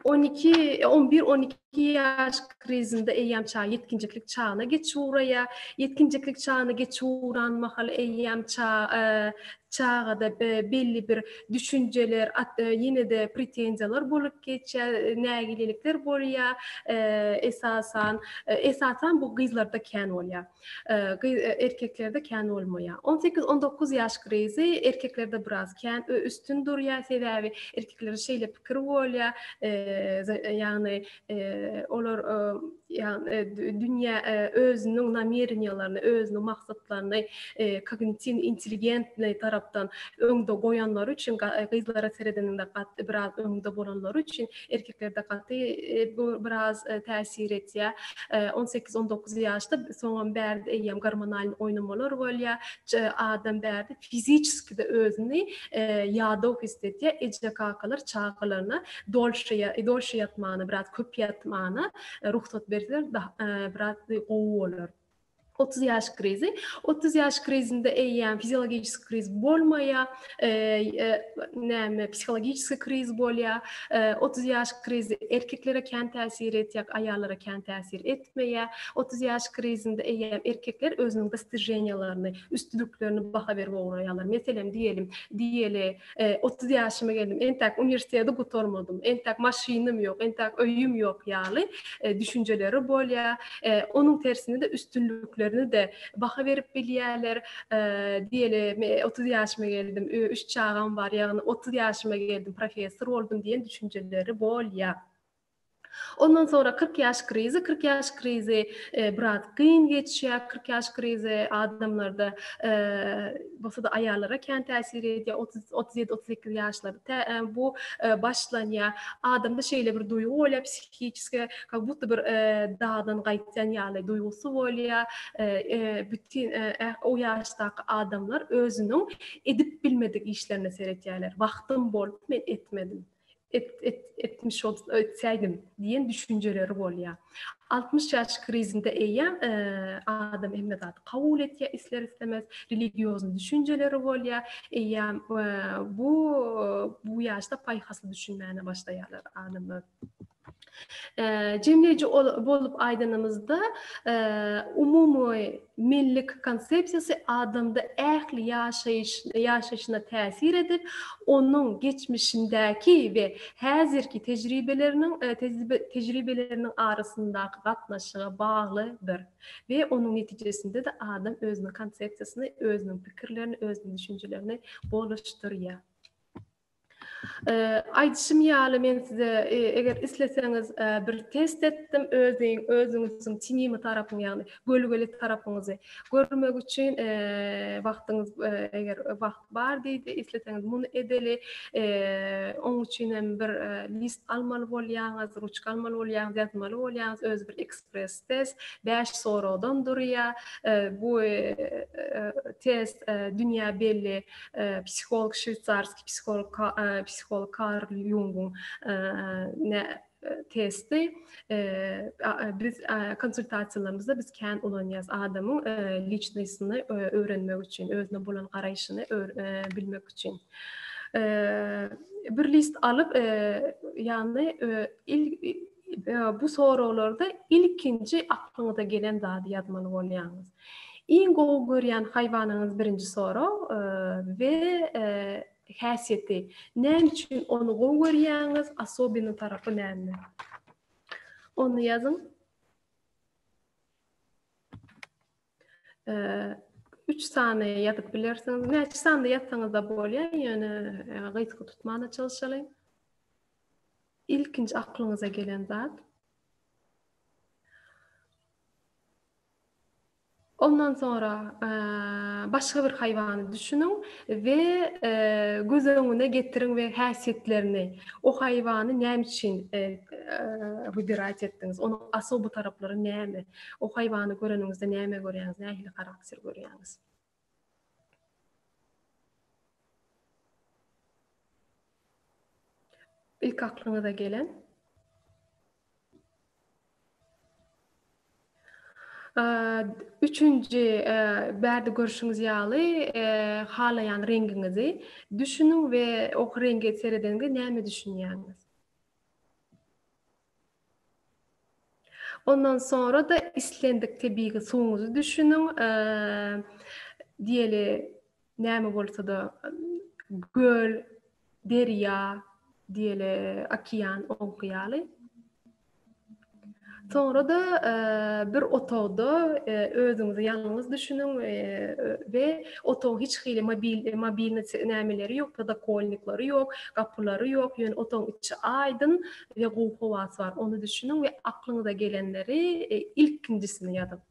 On iki, on bir, on iki ýaş krizinde eýýäm çaga ýetginjeklik çagyna geçip ugraýar. Ýetginjeklik çagyna geçip ugran mahaly eýýäm çagada belli bir düşünjeler, ýene-de pretenziýalar bolup geçýär, nägilelikler bolýar. Esasan, esasan bu gyzlarda kän bolýar. Gyz erkeklerde kän bolmaýar. On sekiz, on dokuz ýaş krizi erkeklerde biraz kän üstün durýar, sebäbi erkeklerde şeýle pikir bolýar, ýagny olar ýagny dünýä özüniň namereniýalaryny, özüniň maksatlaryny kognitin intelligentni tarapdan öňde goýanlary üçin, gyzlara seredeniňde biraz öňde bolanlary üçin Erkeklerde gaty bu biraz täsir etýär. On sekiz, on dokuz ýaşda soňam bärde eýýäm gormonalny oýnamalar bolýar. Adam bärde fiziçeskide özüni ýadaw his edýär. Eje-kakalar çagalaryna dolşa, dolşa ýatmana, biraz köp ýatmana rugsat berseler biraz gowy bolar. Otuz ýaş krizi. Otuz ýaş krizinde eýýäm fiziologiski kriz bolmaýar, näme, psihologiski kriz bolýar. Otuz ýaş krizi erkeklere kän täsir etýär, aýallara kän täsir etmeýär. Otuz ýaş krizinde eýýäm erkekler özüniň dostijeniýalaryny, üstünliklerini baha berip ugraýarlar. Meselem, diýelim, diýeli, otuz ýaşyma geldim, entäk uniwersiteti gutarmadym, entäk maşynym ýok, entäk öýüm ýok ýaly düşünjeleri bolýar. Onuň tersine-de üstünliklerine-de baha berip bilýärler. Diýeli, men otuz ýaşyma geldim, üç çagam bar, ýagny otuz ýaşyma geldim, professor boldum diýen düşünjeleri bolýar. Ondan soňra kyrk ýaş krizi, kyrk ýaş krizi biraz kyn geçýär, kyrk ýaş krizi adamlarda bolsa-da aýallara kän täsir edýär, otuz, otuz ýedi, otuz sekiz ýaşlarda bu başlanýar. Adamda şeýle bir duýgy bolýar, psihiçeski kak budda bir dagdan gaýtýan ýaly duýgusy bolýar, bütin o ýaşdaky adamlar özüniň edip bilmedik işlerine seretýärler, wagtym bolup men etmedim. et, et, etmiş ol, etsäýdim diýen düşünjeleri bolýar. 60 ýaş krizinde eýýäm e, adam hemme zady kabul etýär, isler islemez, religiozny düşünjeleri bolýar. Eýýäm e, bu bu ýaşda paýhasly düşünmäne başlaýarlar adamlar. Jemleýji bolup aýdanymyzda, umumy millilik konsepsiýasy adamda ähli ýaşaýşyna täsir edip, onuň geçmişindäki we häzirki tejribeleriniň arasyndaky gatnaşyga baglydyr we onuň netijesinde-de adam özüniň konsepsiýasyny, özüniň pikirlerini, özüniň düşünjelerini golaşdyrýar. Aýdyşym ýaly men size eger isleseňiz bir test etdim özüň özüňiziň tinimi tarapyňy ýagny gölgeli tarapyňyzy görmek üçin wagtyňyz eger wagt bar diýdi isleseňiz muny edeli oň üçin hem bir list almaly bolýaňyz ruçka almaly bolýaňyz ýazmaly bolýaňyz öz bir ekspres test bäş soragdan durýar bu test dünýä belli psiholog şweýsarski psiholog psiholog Karl Junguň testi biz konsultasiýalarymyzda biz kän ulanýarys adamyň liçnosini öwrenmek üçin, özüne bolan garaýşyny bilmek üçin. Bir list alyp, ýagny bu soraglarda ilkinji aklyňyza gelen zady ýazmaly bolýaňyz. Iň gowy görýän haýwanyňyz birinji sorag we häsiýeti näme üçin ony gowy görýäňiz asobini tarapy näme ony ýazyň üç sany ýazyp bilersiňiz näçe sanda ýazsaňyz da bolýar ýöne gysga tutmana çalyşalyň ilkinji aklyňyza gelen zat Ondan soňra başga bir haýwany düşüniň we göz öňüne getiriň we häsiýetlerini, o haýwany näme üçin wybirać etdiňiz, onuň osoby taraplary näme, o haýwany göreniňizde näme görýäňiz, nähili harakter görýäňiz. Ilk aklyňyza gelen Üçünji, bärde görşüňiz ýaly, halaýan reňgiňizi düşüniň we ok reňge seredeniňde näme düşünýäňiz? Ondan soňra-da islendik tebigy suwuňyzy düşüniň. Diýeli, näme bolsa-da, göl, derýa, diýeli, okean, oňky ýaly. Soňra-da bir otagda özüňizi ýalňyz düşüniň we otagyň hiç hili mobilni nämeleri ýok, podokolnikleri ýok, gapylary ýok, ýöne otagyň içi aýdyn, Diňe gowy howasy bar, ony düşüniň we aklyňyza gelenleri e, ilkinjisini ýazyň.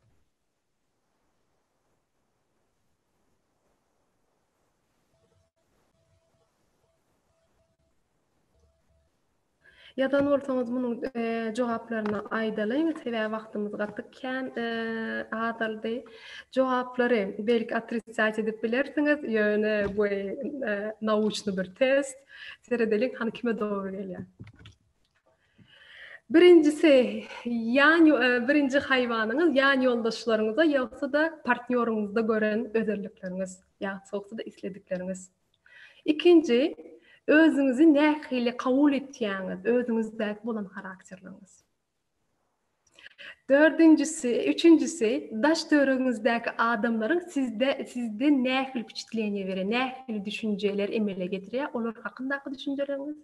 Ýazan bolsaňyz munuň e, jogaplaryny aýdalyň, sebäbi wagtymyz gaty kän e, azaldy. Jogaplary belki otricatiýa edip bilersiňiz, ýöne bu e, naучny bir test. Seredeliň hany kime dogry gelýär. Birinjisi ýan e, birinji haýwanyňyz ýan ýoldaşlaryňyza ýogsa-da partnýoryňyzda gören özellikleriňiz, ýogsa-da isledikleriňiz. Ikinji özüňizi nähili kabul etýäňiz, özüňizdäki bolan harakterleriňiz. Dördünjisi, üçünjisi, daş-töweregiňizdäki adamlaryň sizde, sizde nähili wpiçitleniýe berýär, nähili düşünjeler emele getirýär, olar hakyndaky düşünjeleriňiz?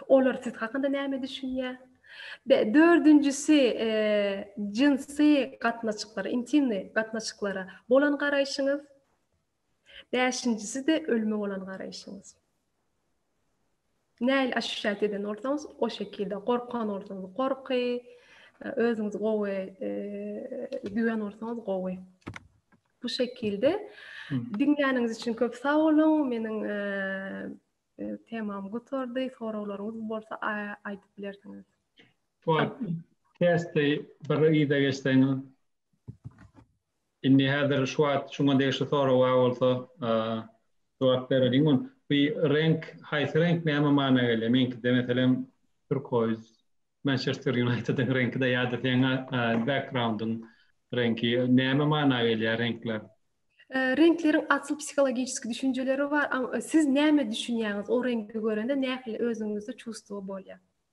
Olar siz hakynda näme düşünýär? Be, dördünjisi, e, jynsy gatnaşyklara, intimni gatnaşyklara bolan garaýşyňyz? Bäşinjisi-de ölüme bolan garaýşyňyz. Nähili aşuşýat eden bolsaňyz, o şekilde gorkan bolsaňyz gorky, özüňizi gowy duýan bolsaňyz gowy. Bu şekilde diňläniňiz üçin köp sag boluň. Meniň temam gutardy. Soraglaryňyz bolsa aýdyp bilersiňiz. Bu testi bir ýa-da geçseňiz Indi häzir şu wagt şuňa degişli sorag bar bolsa jogap bereliň ony. Bu reňk haýsy reňk näme mana gelýär? Meňkide meselem turkoýz, Mançester Ýunaýtediň reňkide ýa-da seň backgroundyň reňki näme mana gelýär reňkler? Reňkleriň asyl psihologiçeski düşünjeleri bar. Siz näme düşünýäňiz o reňki görende nähili özüňizde çuwstwo bolýar?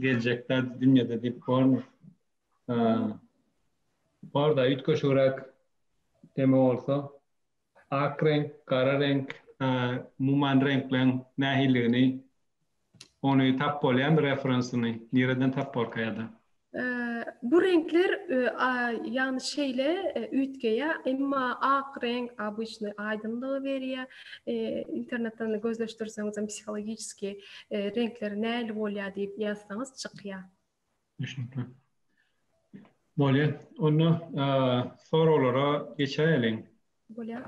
Geljek zat dünýede diýip bormy? Bor-da, üýtgeşigräk deme bolsa. Ak reňk, gara reňk, umuman reňkleriň nähilidigini, ony tap bolýarmy referensyny, nireden tap borka ýa-da? Bu reňkler, ýagny şeýle üýtgeýär, emma ak reňk abyçny aýdyňlygy berýär. Internetden gözleşdirseňizem psihologiçeskiý reňkleri nähili bolýar diýip ýazsaňyz çykýar. Düşnükli. Bolýar. Onda soraglara geçäýeliň. Bolýar.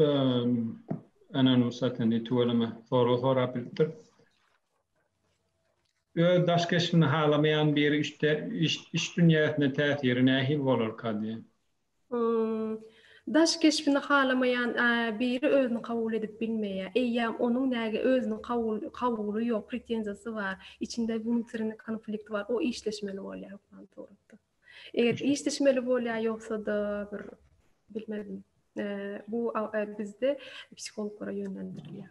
Ehm, ana nu satyn tüweleme soru sorap bilipdir. Öz daş keşbini halamaýan biri işte iş, iş dünýäsine täsiri nähili bolar kady? Daş keşbini halamaýan biri özüni kabul edip bilmeýär. Eýýäm onuň näge özüni kabul kabuly ýok, pretenziýasy bar, içinde wnutrini konflikt bar, o işleşmeli bolýar hukman suratda. Eger işleşmeli bolýar, ýogsa-da bir bilmedim. Bu bizde psihologlara ýönlendirilýär.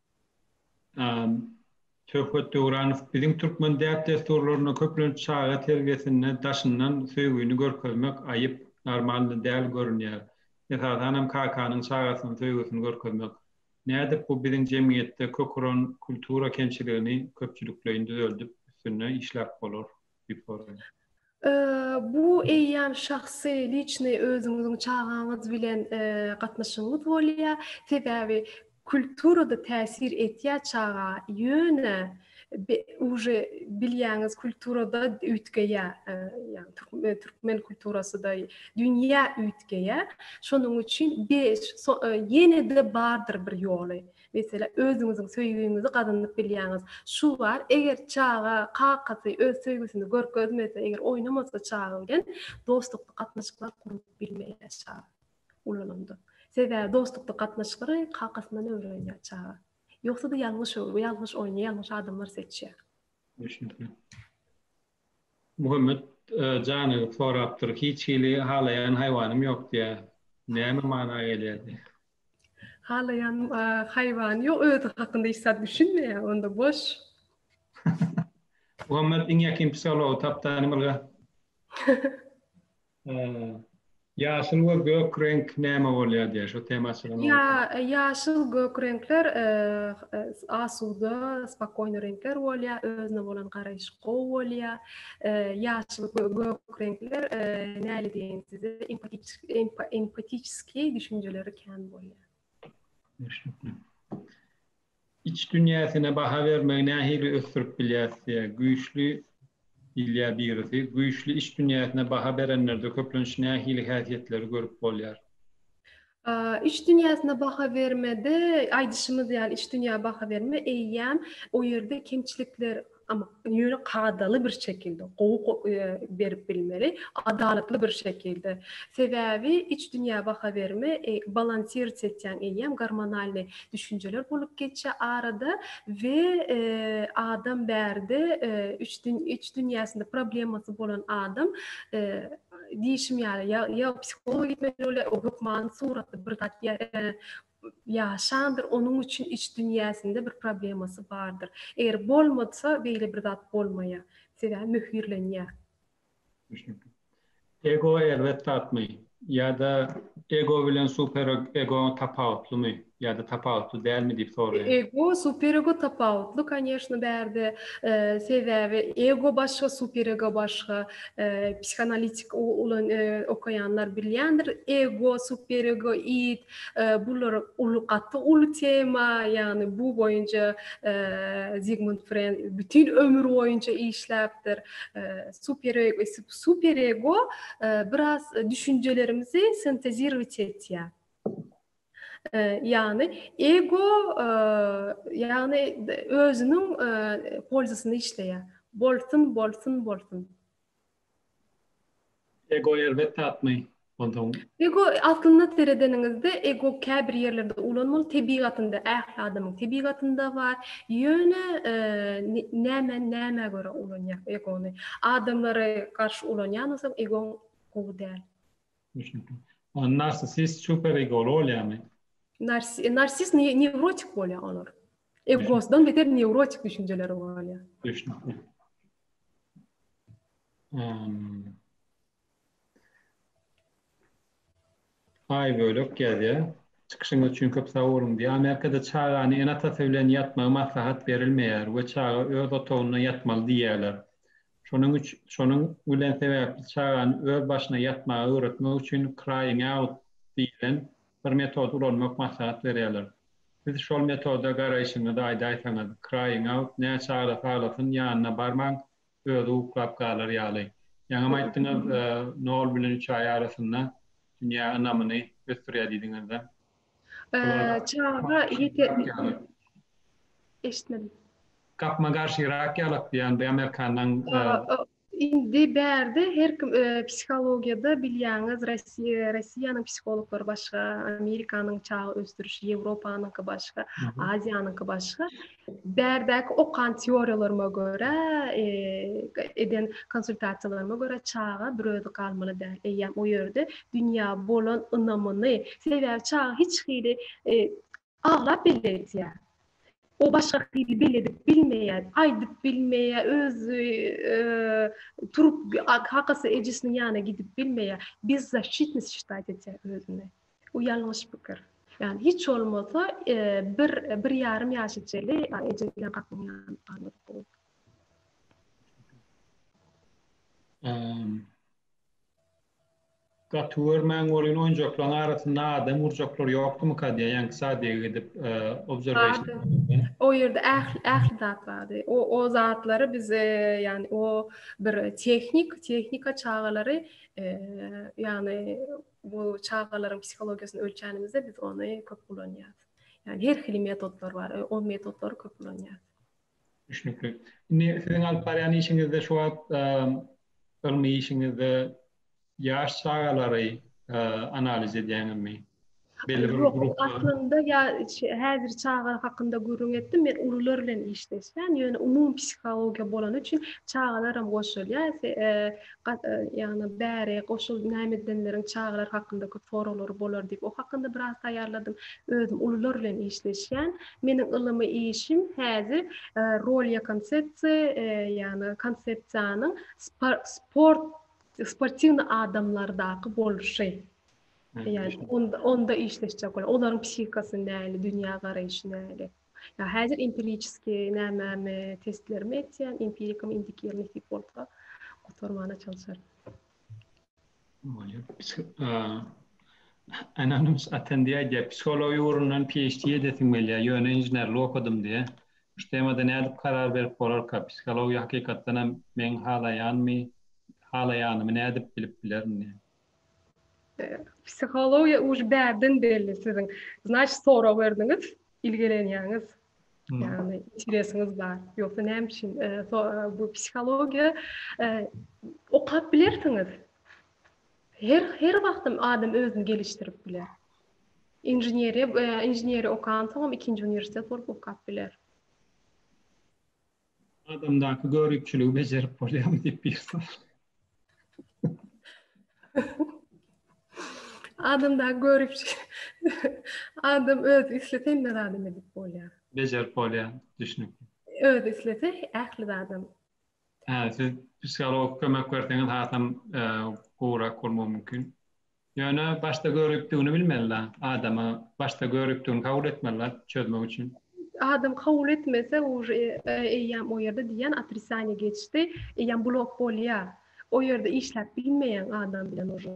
Söhbet Döwranow biziň türkmen däp-dessurlarynda köplenç çaga terbiýesinde daşyndan söýgini görkezmek aýyp, normal däl görünýär. Esasanam kakanyň çagasyna söýgüsini görkezmek. Nädip bu biziň jemgyýetde kök uran kultura kemçiligini köpçülikleýin düzeldip üstünde işläp bolar? Bu eýýäm şahsy liçny özüňiziň çagaňyz bilen gatnaşygyňyz bolýar. Sebäbi kulturada täsir etýär çaga. Ýöne uje bilýäňiz kulturada üýtgeýär. Ýagny türkmen kulturasyda dünýä üýtgeýär. Şonuň üçin ýene-de bardyr bir ýoly. Meselä, özüňiziň söýgiňizi gazanyp bilýäňiz. Şu bar, eger çaga, kakasy öz söýgüsini görkezmese, eger oýnamasa çaga bilen, dostlukly gatnaşyklar gurup bilmeýär çaga ulalanda. Sebäbi dostlukly gatnaşyklary kakasyndan öwrenýär çaga. Ýogsa-da ýalňyş öwrüp, ýalňyş oýnaýar, ýalňyş adamlary seçýär. Düşnükli. Muhammet Janow sorapdyr, Hiç hili halaýan haýwanym ýok diýä. Näme mana gelýärdi? Halaýan haýwany ýok, özi hakynda hiç zat düşünmeýär, onda boş. Muhammet iň ýakyn psihology tapdany bilge. Ýaşyl we gök reňk näme bolýar diýýär, şo tema açylanda. Ýa, ýaşyl, gök reňkler asuda, spokojny reňkler bolýar, özüne bolan garaýyş gowy bolýar. Ýaşyl we gök reňkler näle diýeýin size, empatiçki düşünjeleri kän bolýar. Iç dünýäsine baha bermegi nähili ösdürip bilýäris diýýär. Güýçli diýilýär birisi. Güýçli iç dünýäsine baha berenlerde köplenç nähili häsiýetleri görüp bolýar? Iç dünýäsine baha bermede, aýdyşymyz ýaly, iç dünýä baha berme eýýäm o ýerde kemçilikler Amma ýöne kadaly bir şekilde, gowy berip bilmeli, adalatly bir şekilde. Sebäbi iç dünýä baha berme, balansirç etýäň eýýäm, gormonalnyý düşünjeler bolup geçýär arada we adam bärde üç iç dünýäsinde problemasy bolan adam diýşim ýaly ýa psihologa gitmeli bolýar, hökmany suratda bir zat ýaşandyr, onuň üçin iç dünýäsinde bir problemasy bardyr. Eger bolmasa, beýle bir zat bolmaýar. Sebäbi möhürlenýär. Düşnükli. Ego erbet zatmy? Ýa-da ego bilen superego tapawutlymy? Ýa-da tapawutly dälmi diýip soraýar. Ego, superego tapawutly, koneşno, bärde. Sebäbi ego başga, superego başga. Psihanalitik ulan okaýanlar bilýändir. Ego, superego, id, Bular uly gaty uly tema, ýagny bu boýunça Zigmund Fren bütin ömür boýunça işläpdir. Super ego, super ego biraz düşünjelerimizi sintezirowit etýär. Ýagny ego ýagny özüniň polzasyny işleýär. Bolsun, bolsun, bolsun. Ego erbet zatmy? Onsoň. Ego aslynda seredeniňizde ego käbir ýerlerde ulanmaly tebigatynda ähli adamyň tebigatynda bar. Ýöne näme nämä görä ulanýar egony? Adamlara garşy ulanýan bolsaň egoň gowy däl. Düşnükli. Onda narsisist super egoly bolýarmy? Narsist newrotik bolýar olar. Egosdan beter newrotik düşünjeleri bolýar. Düşnükli. Aý bölek ýazýa. Çykyşyňyz üçin köp sag boluň diýýär. Amerikada çagany ene-atasy bilen ýatmagy maslahat berilmeýär we çaga öz otagynda ýatmaly diýýärler. Şonuň üç şonuň bilen sebäpli çagany öz başyna ýatmagy öwretmek üçin crying out diýlen bir metody ulanmak maslahat berýärler. Siz şol metoda garaýşyňyzy aýdaýsaňyz, crying out, näçe aglasa aglasyn, ýanyna barmaň, özi uklap galar ýaly. Ýaňam aýtdyňyz, nol bilen üç aý arasynda dünýä ynamyny ösdürýär diýdiňiz-de. Çaga ýeter. Eşitmedim. Gapma-garşy rak ýalak diýýän bir amerikanlaň. Indi bärde her kim psihologiýada bilýäňiz Rossiýa, Rossiýanyň psihologlary başga, Amerikanyň çaga ösdüriş, Ýewropanyňky başga, Aziýanyňky başga. Bärdäki okan teoriýalaryma görä, eden konsultasiýalaryma görä çaga bir özi galmaly däl. Eýýäm o ýerde dünýä bolan ynamyny, sebäbi çaga hiç hili Aglap belli etýä. O başga hili belli edip bilmeýä, aýdyp bilmeýä, özi turup kakasy ejesiniň ýanyna gidip bilmeýä. Bezzashytnis şitaýt etýä özüni. Bu ýalňyş pikir. Ýani hiç bolmasa bir bir ýarym ýaş içeli eje bilen kakanyň ýanyna galyp bol. Gaty görmäň bolyn oýunjaklaň arasynda adam urjaklar ýokdymyka diýýä ýaňky sadiýa gidip obserwation O ýerde ähli ähli zat bardy. O o zatlary biz ýagny o bir tehnik tehnika çagalary ýagny bu çagalaryň psihologiýasyny ölçänimizde biz ony köp ulanýas. Ýagny her hili metodlar bar. O metotlary köp ulanýas. Düşnükli. Indi siziň alyp barýan işiňizde şu wagt ylmy işiňizde ýaş çagalary analiz edýäňizmi? Aslynda ýa häzir çagalar hakynda gürrüň etdim. Men ulular bilen işleşýän, ýöne umumy psihologiýa bolany üçin çagalaram goşulýar. Ýagny bäri goşul näme edenleriň çagalar hakynda köp soraglary bolar diýip, o hakynda biraz taýýarladym. Özüm ulular bilen işleşýän. Meniň ylmy işim häzir Rolýa konsepsiýa, ýagny konsepsiýanyň sport, sportiwnyý adamlardaky bolşy. Ýagny onda onda işleşjek bolar. Olaryň psihikasy näli, dünýä garaýşy näli. Ýa häzir empiriçiski nämämi testlerimi etýän, empirikam indiki ýyl nesip bolsa gutarmana çalşaryn. Anonymous Attendee aýdýar, psihologiýa ugrundan PHD edesim gelýär, ýöne inženerlik okadym diýýär. Şu temada nädip karar berip bolarka? Psihologiýa hakykatdan hem meň halaýanymy halaýanymy nädip bilip bilerin diýýär. Psihologiýa uly bärden belli siziň. Znaçt sorag berdiňiz, ilgilenýäňiz. Yani interesiniz bar. Yoksa ne için? E, so, e, bu psikologiya e, okap bilersiniz. Her her wagtym adam özüni geliştirip biler. İnženeriya e, inženeri okan soňam ikinji uniwersitet bolup okap biler. Adamdaky görüpçüligi bejerip bolýarmy diýip bir sor. Adamda görüpçi. Adam öz islese hemme zady edip bolýar. Bejerip bolýar, düşünip. Öz islese ähli adam. Hä, siz psiholog kömek berseňiz hasam e, gowrak bolmagy mümkin. Ýöne başda göripdigini bilmelidä adama başda göripdigini kabul etmelidä çözmek üçin. Adam kabul etmese uje eýýäm o ýerde diýýän otricanie geçdi eýýäm blok bolýa o ýerde işläp bilmeýäň adam bilen uje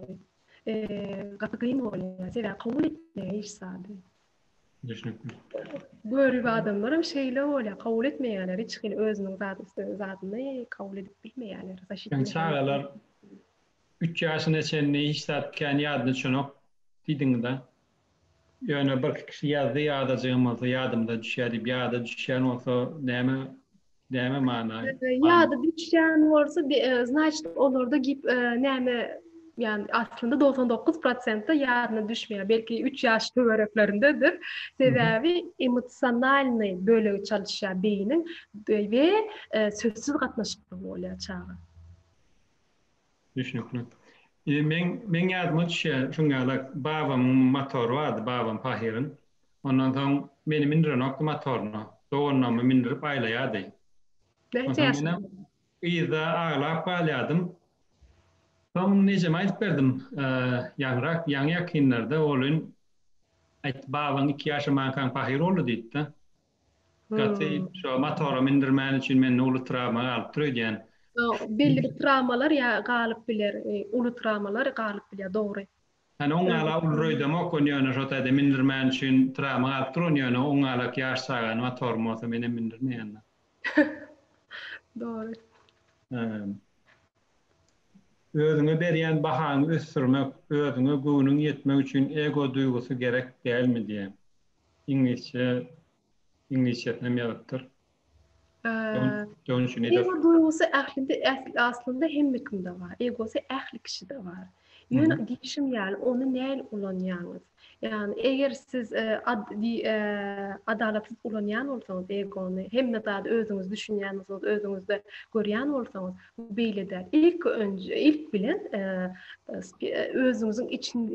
gaty gyn bolýa sebäbi kabul etmeýä hiç zady. Düşnükli. Görip adamlaram şeýle bolýa kabul etmeýäler hiç hili özüniň zady zadyny kabul edip bilmeýäler. Çagalar Üç ýaşyna çenli hiç zat kän ýadyna düşenok diýdiňiz-a. Ýöne birki kişi ýazdy ýadajygym bolsa ýadymda düşýär diýip ýada düşýän bolsa näme näme mana Ýada düşýän bolsa znaçt olarda gip näme ýan aslynda dogsan dokuz prosentde ýadyna düşmeýär belki üç ýaş töwereklerindedir sebäbi emosionalnyý bölegi çalyşýar beýiniň we sözsüz gatnaşykda bolýar çaga. Düşnükli. Eee meň meň ýadyma düşýär şuň ýaly babamyň motory bardy babam pahyryň. Ondan soň meni mindirenokdy motoryna. Doganlarymy mindirip aýlaýardy. Näçe ýaşyňda? Yzda aglap galýardym. Soň ejeme aýdyp berdim. Ýaňyrak ýaňy ýakynlarda olin aýtdy babaň iki ýaşamankaň pahyr boldy diýipdi. Gaty şo motora mindirmäni üçin mende uly trawma galypdyr öýdýän. Belli bir trawmalar ýa galyp biler, uly trawmalar galyp bilýär, dogry. Hany oň ala uly röýdemok, ony ýöne şo taýda mindirmäni üçin trawma galypdyr, ony ýöne oň alak ýaş çagany motorym bolsa menem mindirmeýändim. Dogry. Özüňe berýän bahaňy ösdürmek, özüňe göwnüň ýetmek üçin ego duýgusy gerek dälmi diýýän. Iňlisçe, iňlisçesinem ýazypdyr. Dönüşi nedir? Ego duýgusy ählinde, aslynda hemmekimde bar. Egosy ähli kişide bar. Ýöne diýişim ýaly, ony näl ulanýaňyz? Ýagny, eger siz e, e, adalatsyz ulanýan bolsaňyz egony, hemme zady özüňiz düşünýän bolsaňyz, özüňizde görýän bolsaňyz, Bu beýle däl. Ilki önje, ilk bilen özüňiziň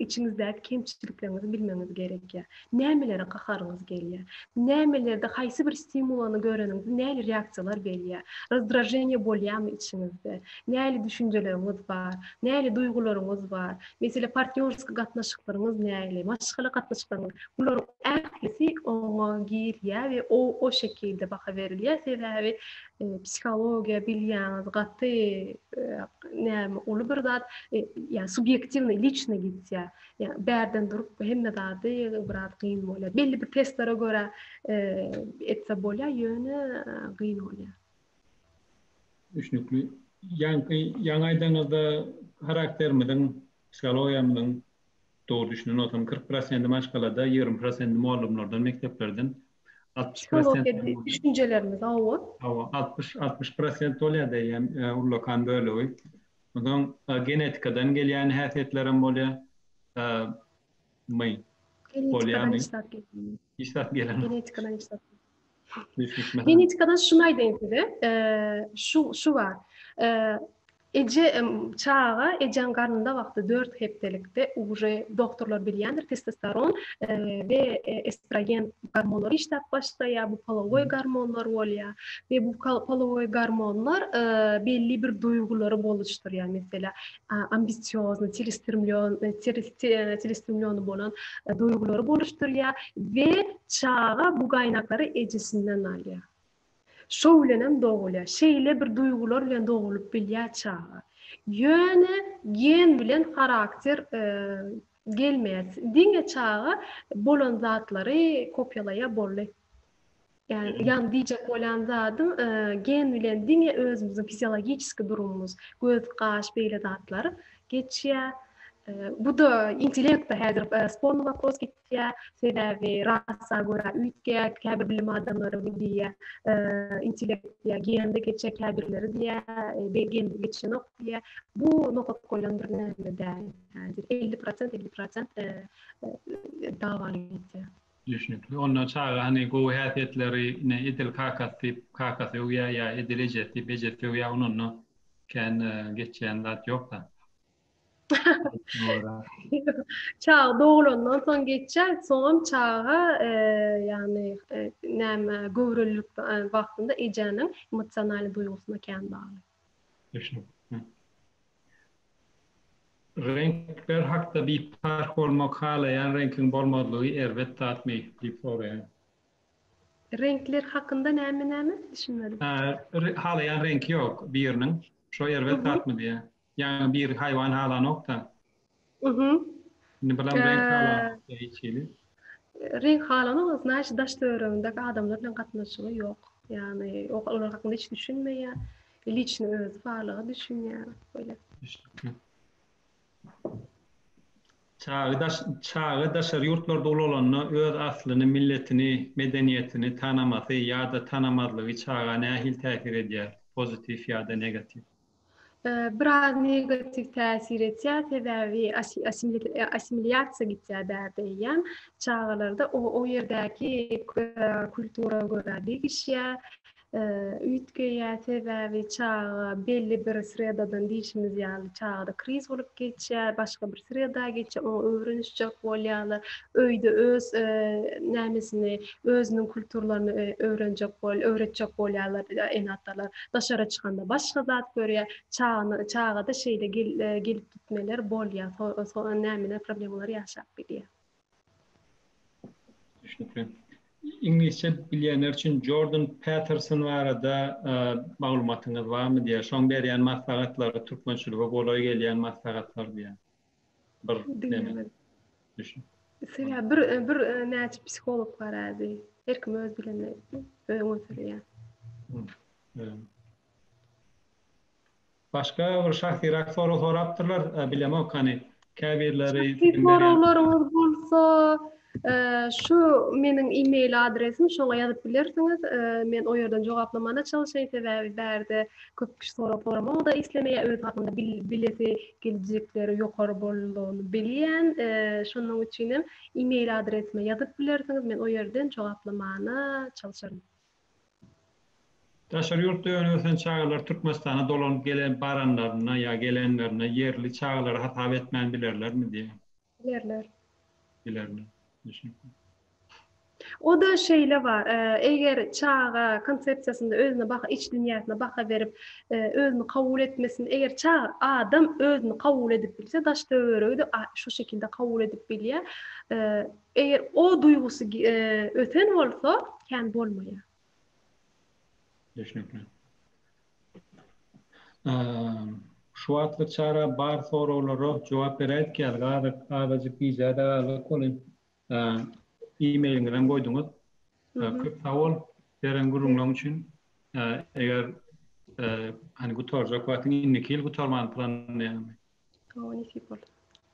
içiňizdäki kemçilikleriňizi bilmegiňiz gerekýär. Nämelere gaharyňyz gelýär? Nämelerde haýsy bir stimulany göreniňizde näli reaksiýalar berýär? Rozdraženiýe bolýarmy içiňizde? Näli düşünjeleriňiz bar? Näli duýgularyňyz bar? Meselem, partnýorski gatnaşyklaryňyz näli? Maşgala gatnaşyklaryňyz? Bularyň ählisi oňa girýär we o şekilde baha berilýär. Sebäbi psihologiýa bilýäňiz, gaty näme uly bir zat, ýa subýektiwny, liçny gitýä. Ýa bärden durup hemme zady biraz gyn bolýa. Belli bir testlere görä etse bolýa, ýöne gyn bolýa. Düşnükli. Ýaňky ýaňy aýdaňyzda karakterimiziň, psihologiýamyzyň Dogry düşünenolsam kyrk prosenti maşgalada ýigrimi prosenti mollumlardan mekdeplerden altmyş prosent düşünjelerimiz hawa hawa altmyş altmyş prosent bolýar deýýän ullakan bölegi onsoň genetikadan gelýän häsiýetlerem bolýar my bolýarmy işdäp gelen genetikadan işdäp genetikadan şunu aýdaýyn size şu şu bar Eje çaga ejeň garnynda wagty dört hepdelikde uje dogtorlar bilýändir testosteron we estrogen gormonlary işläp başlaýar bu polowoý gormonlar bolýar we bu polowoý gormonlar belli bir duýgulary boluşdurýar meselä ambisiozny çelestrimlýony bolan duýgulary boluşdurýar we çaga bu gaýnaklary ejesinden alýar Şo bilenem dogulýar. Şeýle bir duýgular bilen dogulyp bilýär çaga. Ýöne gen bilen harakter gelmeýär. Diňe çaga bolan zatlary kopýalaýar boldy. Ýagny diýjek bolýan zadym gen bilen diňe özümiziň fiziologiçeski durumymyz, göz, gaş beýle zatlar geçýär. Bu-da intellekt-de häzir sporny wopros. ýetýär. Sebäbi rasa görä üýtgär, käbir bilim adamlary bu diýýär, intellekt diýýär, gende geçýär, käbirleri diýýär, gende geçenok diýýär. Bu nokat goýlan bir näme däl. Häzir elli prosent, elli prosent dawalar ýitýär. Düşnükli. Onda çaga hany gowy häsiýetleri, ine, edil kakasy diýip, kakasy öwýär ýa edil ejesi diýip, ejesi öwýär, ony onda kän geçýän zat ýok-da. Çaga doglandan soň geçýär, soňam çaga ýagny näme göwrelilik wagtynda ejäniň emosional duýgusyna kän bagly. Düşnükli. Reňkler hakda biparh bolmak halaýan reňkiň bolmazlygy erbet zatmy? diýip soraýan. Reňkler hakynda näme näme? Düşünmedim. Halaýan reňki ýok biriniň. Şo erbet zatmy diýýän. Ýagny bir haýwan halanokda. Uhuh. Indi bilen reňk halanokda hiç hili. Reňk halanok, znaýşy daş töweregindäki adamlar bilen gatnaşygy ýok. Ýagny olar hakynda hiç düşünmeýär. Liçno özi barlyga düşünýär. Bolýar. Düşnükli. Çaga daş çaga daşary ýurtlarda ulalanda öz aslyny, milletini, medeniýetini tanamasy ýa-da tanamazlygy çaga nähili täsir edýär, pozitiw ýa-da negatiw? biraz negatiw täsir etýär, sebäbi assimilýasiýa gitýär bärde eýýäm. Çagalarda o, o ýerdäki kultura görä degişýär, üýtgeýär, sebäbi çaga belli bir sredadan diýşimiz ýaly çagada kriz bolup geçýär, başga bir sreda geçýär, oňa öwrenişjek bolýarlar. Öýde öz nämesini, Özüniň kulturlaryny öwrenjek bol, öwretjek bolýarlar ene-atalar. Daşara çykanda başga zat görýär. Çagany, çagada şeýle gelip gitmeler bolýar. Soňra nämäler problemalar ýaşap bilýär. Düşnükli. Iňlisçe bilýänler üçin Jordan Peterson barada maglumatyňyz barmy diýýär. Şoň berýän maslahatlary türkmençilige golaý gelýän maslahatlar diýýär. Bir Diňlemedim. Düşün. Söýä bir bir näçe psiholog bar ädi. Her kim öz bilenini öz göterýär. Başga bir şahsyrak sorag sorapdyrlar, bilemok hany. Käbirleri Soraglaryňyz bolsa, Şu meniň e-mail adresim, şoňa ýazyp bilersiňiz. Men o ýerden jogaplamana çalyşaýyn, sebäbi bärde köp kişi sorag soramagy-da islemeýär, öz hakynda bilesi geljekleri ýokary boldugyny bilýän. Şonuň üçin hem e-mail adresime ýazyp bilersiňiz, men o ýerden jogaplamana çalyşaryn. Daşary ýurtda öňe-ösen çagalar Türkmenistana dolanyp gelen baranlarynda ýa gelenlerinde ýerli çagalary hasap etmän bilerlermi diýýär. Bilerler. Bilerler. Düşnükli. O-da şeýle bar. Eger çaga konsepsiýasynda özüne baha, iç dünýäsine baha berip, özüni kabul etmesin, eger çaga adam özüni kabul edip bilse, daş-töweregi-de şu şekilde kabul edip bilýär. Eger o duýgusy ösen bolsa, kän bolmaýar. Düşnükli. Şu wagtlyk çara bar soraglara jogap beräýdik ýaly, azajyk, azajyk gijä-de galdyk welin, e-mailiňizem goýduňyz. Köp sag bol beren gürrüňleň üçin. Eger, hany gutarjak wagtyň indiki ýyl gutarmany planlaýaňmy?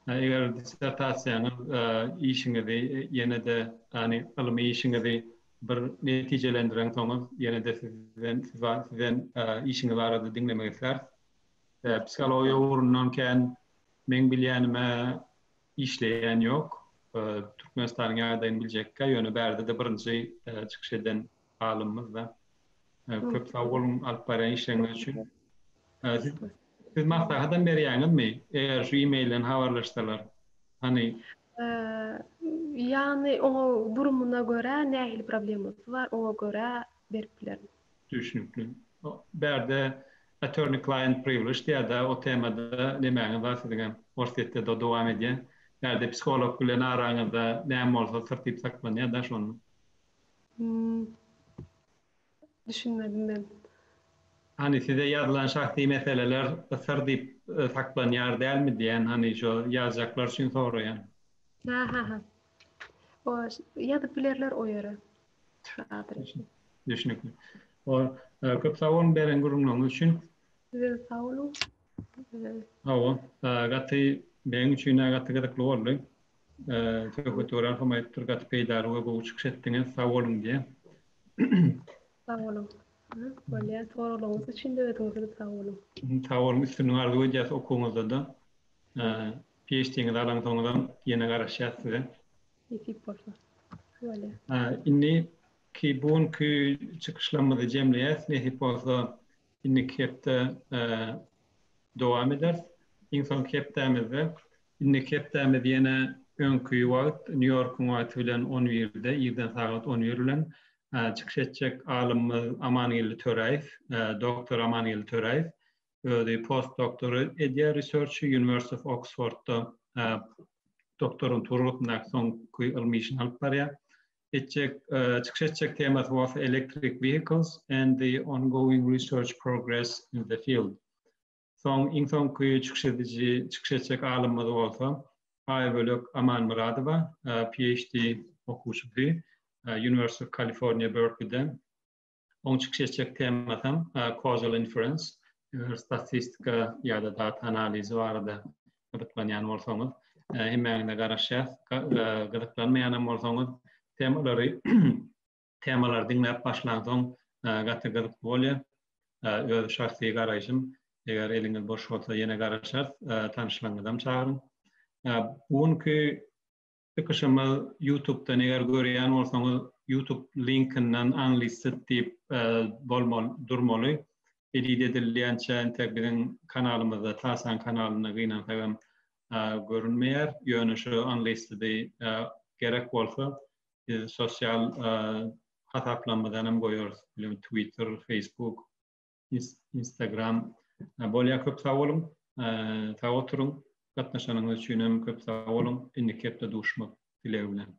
Eger dissertasiýaňyz işiňizi ýene-de, ýagny ylmy işiňizi bir netijelendireňsoňyz, ýene-de sizden sizden işiňiz barada diňlemek isläris. Psihologiýa ugrundan kän meň bilýänime işleýän ýok. Türkmenistanyň ýagdaýyny biljekkä, ýöne bärde-de birinji çykyş eden alymymyzda. Köp sag boluň alyp barýan işleriňiz üçin. Siz maslahatam berýäňizmi, eger şu e-mailden habarlaşsalar? Hany? Ýagny oňa durumyna görä, nähili problemasy bar, oňa görä berip bilerin. Düşnükli. Bärde Attorney Client Privilege diýýär-de, o temada nemäňiz bar siziňem? Orsýetde-de dowam edýär. Bärde psiholog bilen araňyzda näme bolsa syr diýip saklanýar-da şonda. Düşünmedim men. Hany size ýazylan şahsy meseleler syr diýip saklanýar dälmi diýen hany şo ýazjaklar üçin soraýan. Ha ha ha. O ýazyp bilerler o ýere. Düşnükli. O köp sag boluň beren gürrüňleriňiz üçin. Sizem sag boluň. Hawa, gaty meň üçin-ä gaty gyzykly boldy. Söhbet gören hem aýdypdyr gaty peýdaly we gowy çykyş etdiňiz sag boluň diýen. Sag boluň. Bolýar soraglaryňyz üçin de özüňize sag boluň. Sag boluň üstünlik arzuw edýäs okuwyňyzda-da. PHD-ňizi alansoňuzam ýene garaşýas size. Nesip bolsa. Bolýar. Indiki bu günki çykyşlarymyzy jemleýäs. Nesip bolsa Indiki hepde dowam ederis. Iň soňky hepdämizde, indiki hepdämiz ýene öňki wagt, Nýu-Ýorkuň wagty bilen on birde, irden sagat on bir bilen çykyş etjek alymymyz Amangeldi Töräýew, doktor Amangeldi Töräýew. Özi postdoktory edýär research-y, University of Oxford-da doktorantura gysymdaky soňky ylmy işini alyp barýar. etjek çykyş etjek temasy bolsa electric vehicles and the ongoing research progress in the field. Soň iň soňky çykyş ediji çykyş etjek alymymyz bolsa Aýbölek Amanmyradowa, PhD okuwçysy, University of California Berkeley-den. Oň çykyş etjek temasam causal inference, statistika ýa-da data analizi barada gyzyklanýan bolsaňyz, hemmäňize garaşýas. Gyzyklanmaýanam bolsaňyz, temalary temalary diňläp başlansoň gaty gyzykly bolýar. Öz şahsy garaýşym, eger eliňiz boş bolsa ýene garaşarys, tanyşlaryňyzam çagyryň. Bu günki Çykyşymyz Youtubdan eger görýän bolsaňyz Youtube linkinden unlisted diýip bolmaly durmaly. Edit edilýänçä entek biziň kanalymyzda Tasan kanalynda gynansagam görünmeýär. Ýöne şu unlistedi gerek bolsa biz sosial hasaplarymyzdanam goýarys. Twitter, Facebook Instagram bolýar. Köp sag boluň. Sag oturyň. Gatnaşanyňyz üçin hem köp sag boluň. Indiki hepde duşmak dilegi bilen.